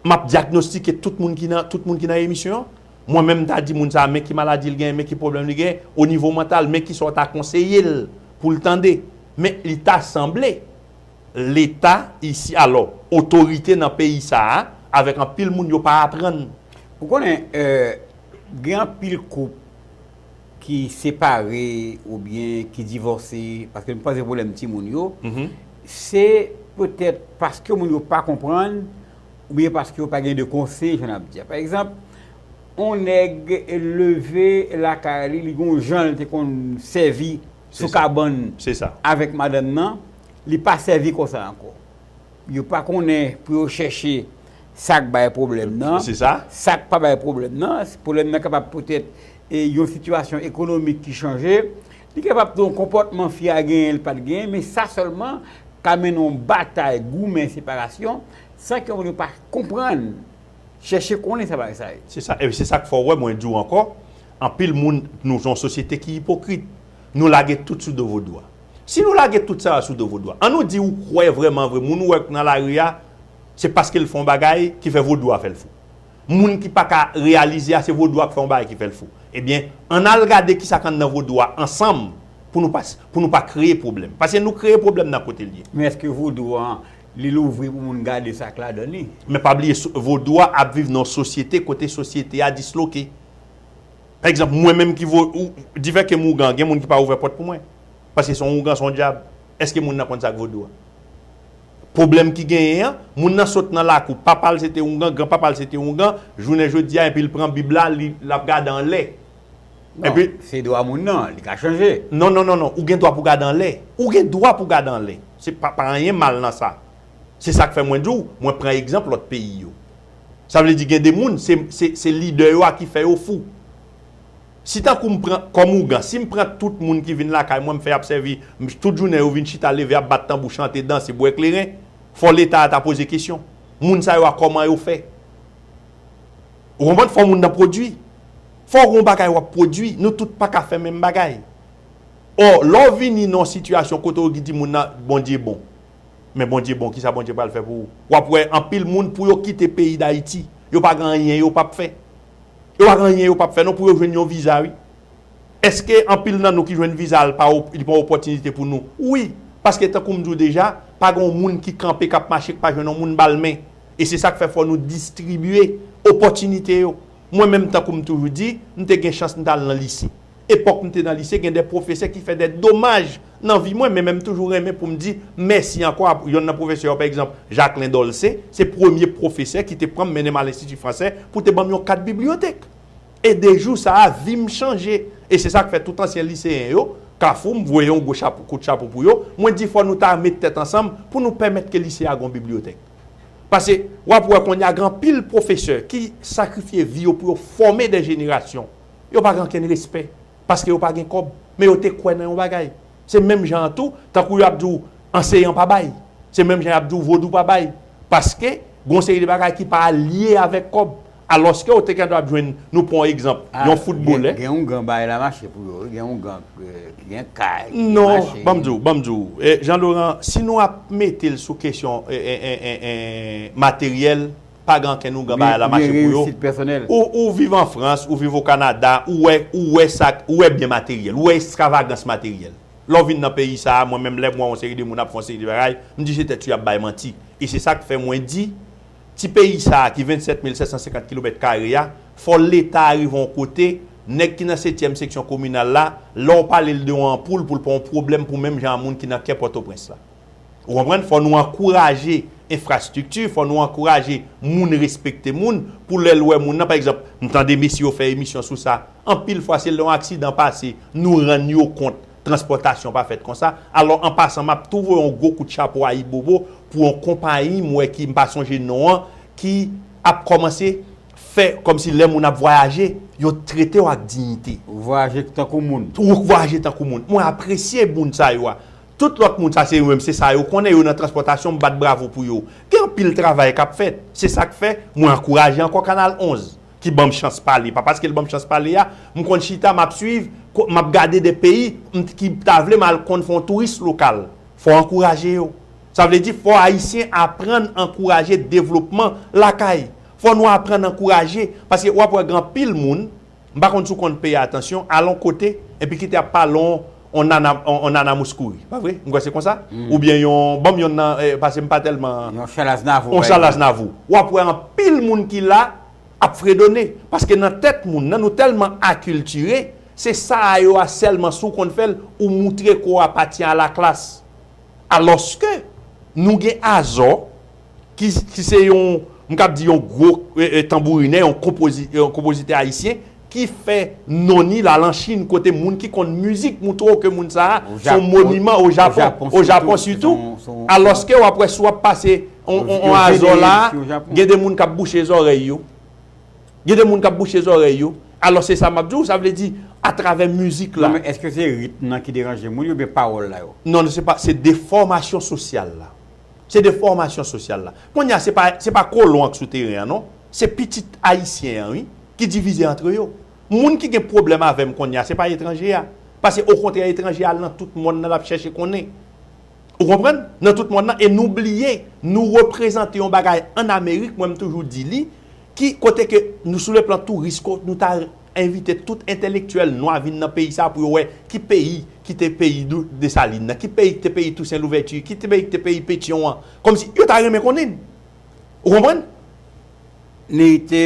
m ap dyagnostike tout moun ki nan, tout moun ki nan emisyon an. Mwen menm m ta di moun sa a men ki maladi l genyen, men ki pwoblèm li genyen, o nivo mantal, men ki sa w ta konseye l pou l tande. Men li ta sanble Leta isi, alò, otorite nan peyi sa a, avèk anpil moun, yo pa aprann Ou konnen, gen anpil koup ki separe oubyen ki divòse, paske m panse pwoblèm timoun yo, se petèt paske moun yo pa konprann oubyen paske yo pa gen de konseye, jan n ap di a. Pa egzanp, yon nèg leve lakay li, li gen yon jan l te konn sèvi sou kabann avèk madanm nan, li pa sèvi konsa ankò. Yo pa konnen pou yo chèche sa k bay pwoblèm nan, sa k pa bay pwoblèm nan. Pwoblèm nan kapab poutèt yon sitiyasyon ekonomik ki chanje. Li kapab tou yon konpòtman fi a genyen li pa t genyen. Men sa sèlman ka mennen yon batay, goumen, separasyon san ke moun yo pa konprann, chèche konnen sa bagay sa ye. Se sa. E se sa k fè w wè mwen di w ankò, anpil moun, nou se yon sosyete ki ipokrit. Nou lage tout sou do vodou a. Si nou lage tout sa a sou do vodou a, an nou di ou kwè vrèman vre moun ou wè k nan lari a se paske l fè yon bagay ki fè vodou a fè l fou. Moun ki pa ka reyalize a se vodou a k fè yon bagay ki fè l fou. Ebyen, an n al gade ki sa k anndan vodou a ansanm pou nou pa pou nou pa kreye pwoblèm. Paske nou kreye pwoblèm nan kote l ye. Men èske vodou an li louvri pou moun gade sa k ladan li? Men pa bliye vodou a ap viv nan yon sosyete kote sosyete a disloke. Pa egzanp, mwen menm ki vo, ou, difè kem ougan, gen moun ki pa ouvè pòt pou mwen. Paske se yon ougan, se yon dyab. Eske moun nan konn sa k vodou a? Pwoblèm ki genyen an, moun nan sot nan lakou, papa l se te ougan, gran papa l se te ougan, jounen jodi a enpi l pran bib la, li, l ap gade anlè. Non, Enpi. se dwa moun nan, li ka chanje. Non, non, non, non, ou gen dwa pou gade anlè. Ou gen dwa pou gade anlè. Se pa, pa anyen mal nan sa. Se sak fè mwen di w mwen pran egzanp lòt peyi yo. Sa vle di gen de moun se lidè yo a ki fè yo fou. Si tankou m pran kòm ougan, si m pran tout moun ki vin lakay mwen m fè y ap sèvi m tout jounen yo vin chita leve ap bat tanbou chante danse bwè kleren fò leta a ta poze kesyon moun sa yo a kòman yo fè. Ou konprann fò moun nan pwodui. Fò gon bagay w ap pwodui. Nou tout pa ka fè menm bagay. Ò lè w vini nan yon sitiyasyon kote w di moun nan Bondye bon. Men Bondye bon kisa Bondye pral fè pou ou wap wè anpil moun pou yo kite peyi dayiti yo pa gen anyen yo pap fè yo pa gen anyen yo pap fè non pou yo jwenn yon viza wi eske anpil nan nou ki jwenn viza al pa li pa yon opòtinite pou nou wi paske tankou m di w deja pa gen yon moun ki kanpe kap mache k pa jwenn yon moun ba l men e se sak fè fò nou distribye opòtinite yo mwen menm tankou m toujou di m te gen chans m t al nan lise. Epòk m te nan lise gen 2 pwofesè ki fè 2 domaj nan vi mwen men men m toujou renmen pou m di mèsi ankò a yonn nan pwofesè yo pa egzanp Jacquelin Dolcé se premye pwofesè ki te pran m mennen m al enstiti fransè pou te ban m yon kat bibliyotèk e de jou sa a vi m chanje e se sa k fè tout ansyen liseyen yo kafou m voye yon gwo chapo kout chapo pou yo mwen di fò nou ta met tèt ansanm pou nou pèmèt ke lise a gon bibliyotèk pase w ap wè kounye a gen anpil pwofesè ki sakrifye vi yo pou yo fòme dè jenerasyon. Yo pa gen ankenn respè paske yo pa gen kòb, men yo te kwè nan yon bagay. Se menm jan an tou, tankou yo ap di w anseyan pa bay, se menm jan y ap di w vodou pa bay, paske gen yon seri de bagay ki pa lye avèk kòb. Alòske ou te gen dwa ap jwenn, nou pran yon egzanp, yon foutbolè. Gen yon gan bay la mache pou yo wi, gen yon gan ki gen kay, ki mache. Non, ban m di w, ban m di w, Jean Laurent, si nou ap mete l sou kesyon materyèl, pa gen ankenn ougan bagay la mache pou yo, ou viv an frans, ou viv o kanada, ou wè, ou wè sa, ou wè byen materyèl, ou wè estravagans materyèl. Lè w vin nan peyi sa a, mwen menm lè m wè yon seri de moun ap fè yon seri de bagay, m di se tèt yo y ap bay manti. E se sa k fè mwen di, ti peyi sa a ki 27 mil 750 kilomèt kare a, fò leta a rive yon kote, nèg ki nan setyèm seksyon kominal la, lè w pale l de yon anpoul pou l pa yon pwoblèm pou menm jan a moun ki nan kè pòtoprens la. Ou konprann? Fò nou ankouraje enfrastrikti, fò nou ankouraje moun respekte moun, pou lè l wè moun nan, pa egzanp, m tande mesye yo fè emisyon sou sa, anpil fwa se lè yon aksidan pase, nou rann yo kont transpòtasyon pa fèt konsa. Alò, an pasan, m ap tou voye yon gwo kout chapo ayibobo pou yon konpayi m wè ki, m pa sonje non an, ki ap kòmanse fè kòmsi lè moun ap vwayaje, yo trete w ak diyite. Ou vwayaje tankou moun. Ou vwayaje tankou moun. Mwen apresye moun sa yo a. Tout lòt moun sa se yo menm se sa yo konnen yo nan transpòtasyon m bat bravo pou yo. Gen anpil travay k ap fèt. Se sa k fè mwen ankouraje ankò Kanal 11 ki ban m chans pale. Pa paske l ban m chans pale a m konn chita m ap suiv m ap gade de peyi m t ki ta vle m al konn fè yon touris lokal. Fò ankouraje yo. Sa vle di fò Ayisyen aprann ankouraje devlopman lakay. Fò nou aprann ankouraje paske w ap wè gen anpil moun M pa konn si w konn peye atansyon, al on kote, enpi kite ap pale on on nana on nana mous kouri. Pa vre? M kwè se konsa? Oubyen yon, ban m yonn nan, pase m pa tèlman. Yon Chal Aznavou, pa egzanp. On Chal Aznavou. W ap wè anpil moun ki la ap fredone. Paske nan tèt moun nan, nou tèlman akiltire, se sa a yo a sèlman si w konn fè l, ou moutre ke w apatyen a la klas. Alòske, nou gen azò. ki se yon, m kab di yon gwo tanbourinè, yon konpozitè ayisyen, ki fè non ni la lan Chin kote moun ki konn mizik moutre w ke moun sa a se yon moniman o Japon, o Japon sitou, alòske w ap wè si w ap pase yon azò la, gen de moun k ap bouche zòrèy yo, gen de moun k ap bouche zòrèy yo, alò se sa m ap di w, sa vle di atravè mizik la. Non men, èske se ritm nan ki deranje moun yo oubyen pawòl la yo? Non, se defòmasyon sosyal la. Se de fòmasyon sosyal la. Kounye a se pa se pa kolon an k sou teren an non. Se pitit ayisyen an wi ki divize antre yo. Moun ki gen pwoblèm avè m kounye a se pa etranje a. Pase okontrè etranje a al nan tout monn nan l ap chèche konnen. Ou konprann? Nan tout monn nan e nou bliye nou reprezante yon bagay ann amerik mwen m toujou di li ki kote ke nou sou le plan touris ko nou ta Envite tout entelektyèl nwa vin nan peyi sa pou yo wè ki peyi ki te peyi Desalin nan, ki peyi ki te peyi Tousen Louvèti, ki peyi ki te peyi Petyon an. Kòmsi yo ta renmen konnin. Ou konprann? Lite,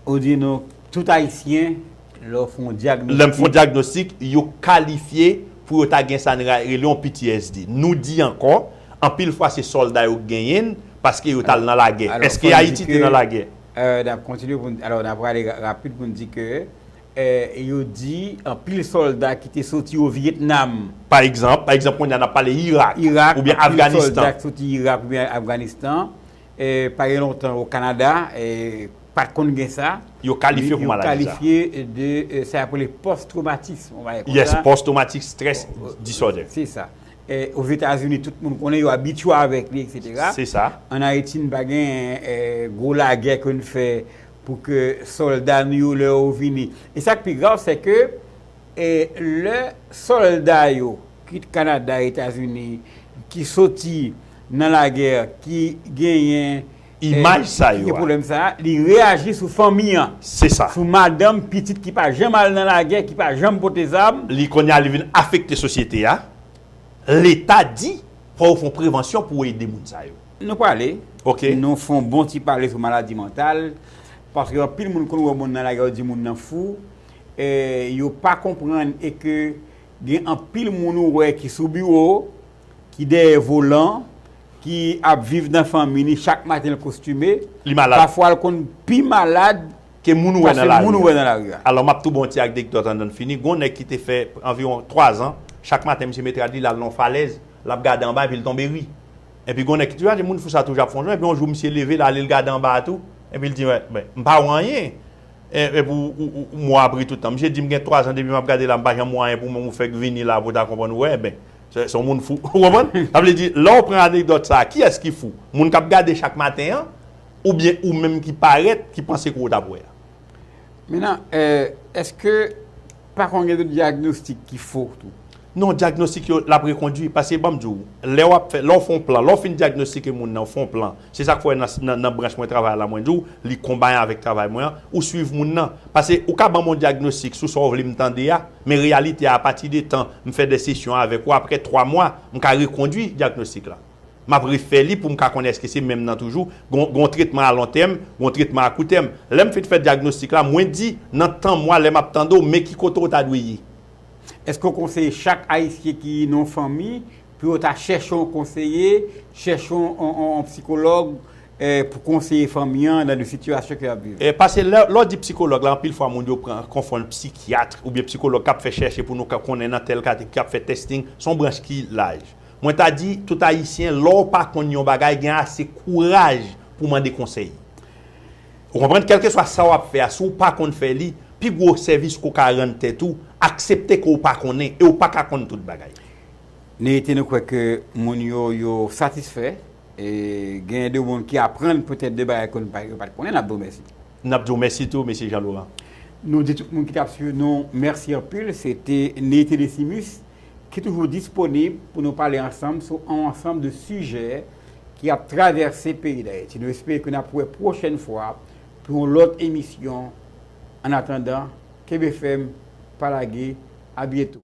ou di nou tout Ayisyen, lè w fon dyagnostik. Lè m fon dyagnostik, yo kalifye pou yo ta gen sa n rele yon PTSD. Nou di ankò, anpil fwa se sòlda yo k genyen l, paske yo t al nan lagè. Èske Ayiti te nan lagè? N ap kontinye pou n, alò n ap prale rapid pou n di ke yo di anpil sòlda ki te soti o Vyetnam. Pa egzanp, pa egzanp kounye a n ap pale Irak oubyen Afganistan. Irak, anpil sòlda ki soti Irak oubyen Afganistan pa gen lontan o Kanada pa t konn gen sa. Yo kalifye pou maladi sa. Yo kalifye de sa y ap rele pòs twomatism, on va ye konsa. Yes, pòs twomatik stress disorder. Se sa. Ozetazini tout moun konnen, yo abitye avèk li etc. Se sa. An Ayiti n pa gen gwo lagè ke n fè pou ke sòlda nou yo lè yo vini. E sa k pi grav se ke lè sòlda yo kit Kanada, Etazini ki soti nan lagè ki genyen. imaj sa yo a. Li reyaji sou fanmi an, sou madanm, pitit ki pa janm al nan lagè, ki pa janm pote zam. Li kounye a li vin afekte sosyete a. Leta di fò yo fon prevansyon pou ede moun sa yo. Nou pale, nou fon bon ti pale sou maladi mantal. Paske anpil moun konn wè moun nan lagè yo di moun nan fou. Yo pa konprann e ke gen anpil moun ou wè ki sou biwo, ki dèyè volan, Ki ap viv nan fanmi li chak maten l kostime. Li malad. Pafwa l konn pi malad. Ke moun ou wè nan lari a. Pase moun ou wè nan lari a. Alò m ap tou bon ti akdekdòt andan n fini. Gon nèg ki te fè anviwon twazan, chak maten misye met rad li l al nan yon falèz, l ap gade anba epi l tonbe ri. Epi gon nèk ki toujou ap di moun fou sa toujou ap fè yon jan epi yon jou misye leve l ale l gade anba a tou epi l di mwen men m pa wè anyen epi ou ou mwen ap ri tout tan. Misye di m gen twazan depi m ap gade la m pa janm wè anyen pou mwen ou fèk vini la pou w ta konprann ou wè ben. Se yon moun fou. Ou konprann? Sa vle di, lè ou pran anekdòt sa a, kiyès ki fou? Moun k ap gade chak maten an oubyen ou menm ki parèt, ki panse kou ou t ap wè a? Mennan, èske pa konn gen de dyagnostik ki fo tou? Non, dyagnostik yo, l ap rekondui. Paske ban m di ou, lè w ap fè, lè w fè yon plan, lè w fin dyagnostike moun nan, ou fè yon plan. Se sa k fè w wè nan branch mwen travay la, mwen di w, li konbayan avèk travay mwen an, ou suiv moun nan. Pase ou ka ban m yon dyagnostik sou sa w vle m tande a, Men reyalite a apati de tan m fè 2 sesyon avèk ou aprè 3 mwa m ka rekondwi dyagnostik la. M ap refè li pou m ka konnen èske se menm nan toujou, gen yon tretman a lon tèm, gen yon tretman a kou tèm. Lè m fin fè dyagnostik la mwen di nan tan mwa lè m ap tande w men ki kote ou ta dwe ye. Èske w konseye chak ayisyen ki nan yon fanmi pou yo ta chèche yon konseye, chèche yon psikològ Pou konseye fanmi an nan de sitiyasyon ke yap viv. Pase lè w di psikològ la anpil fwa moun yo pran konfonn psikyatr oubyen psikològ kap fè chèche pou nou ka konnen nan tèl kate kap fè testing son branch ki laj mwen ta di tout ayisyen lè w pa konn yon bagay gen ase kouraj pou w mande konsèy ou konprann kèlkeswa sa wap fè a si w pa konn fè li pi gwo sèvis ke w ka rann tèt ou aksepte ke w pa konnen e w paka konn tout bagay. N rete nou kwè ke moun yo yo satisfè e genyen de moun ki aprann petèt de bagay ke nou yo pa t konnen, n ap di w mèsi. N ap di w mèsi tou, Mesye Jean Laurent. Nou di tout moun ki t ap swiv nou mèsi anpil. Se te Neyete Desimus ki toujou disponib pou nou pale ansanm sou on ansanm de sijè ki ap travèse peyi Dayiti. Nou espere ke n ap wè pwochèn fwa pou yon lòt emisyon. Annatandan, kenbe fèm, pa lage, abyeto.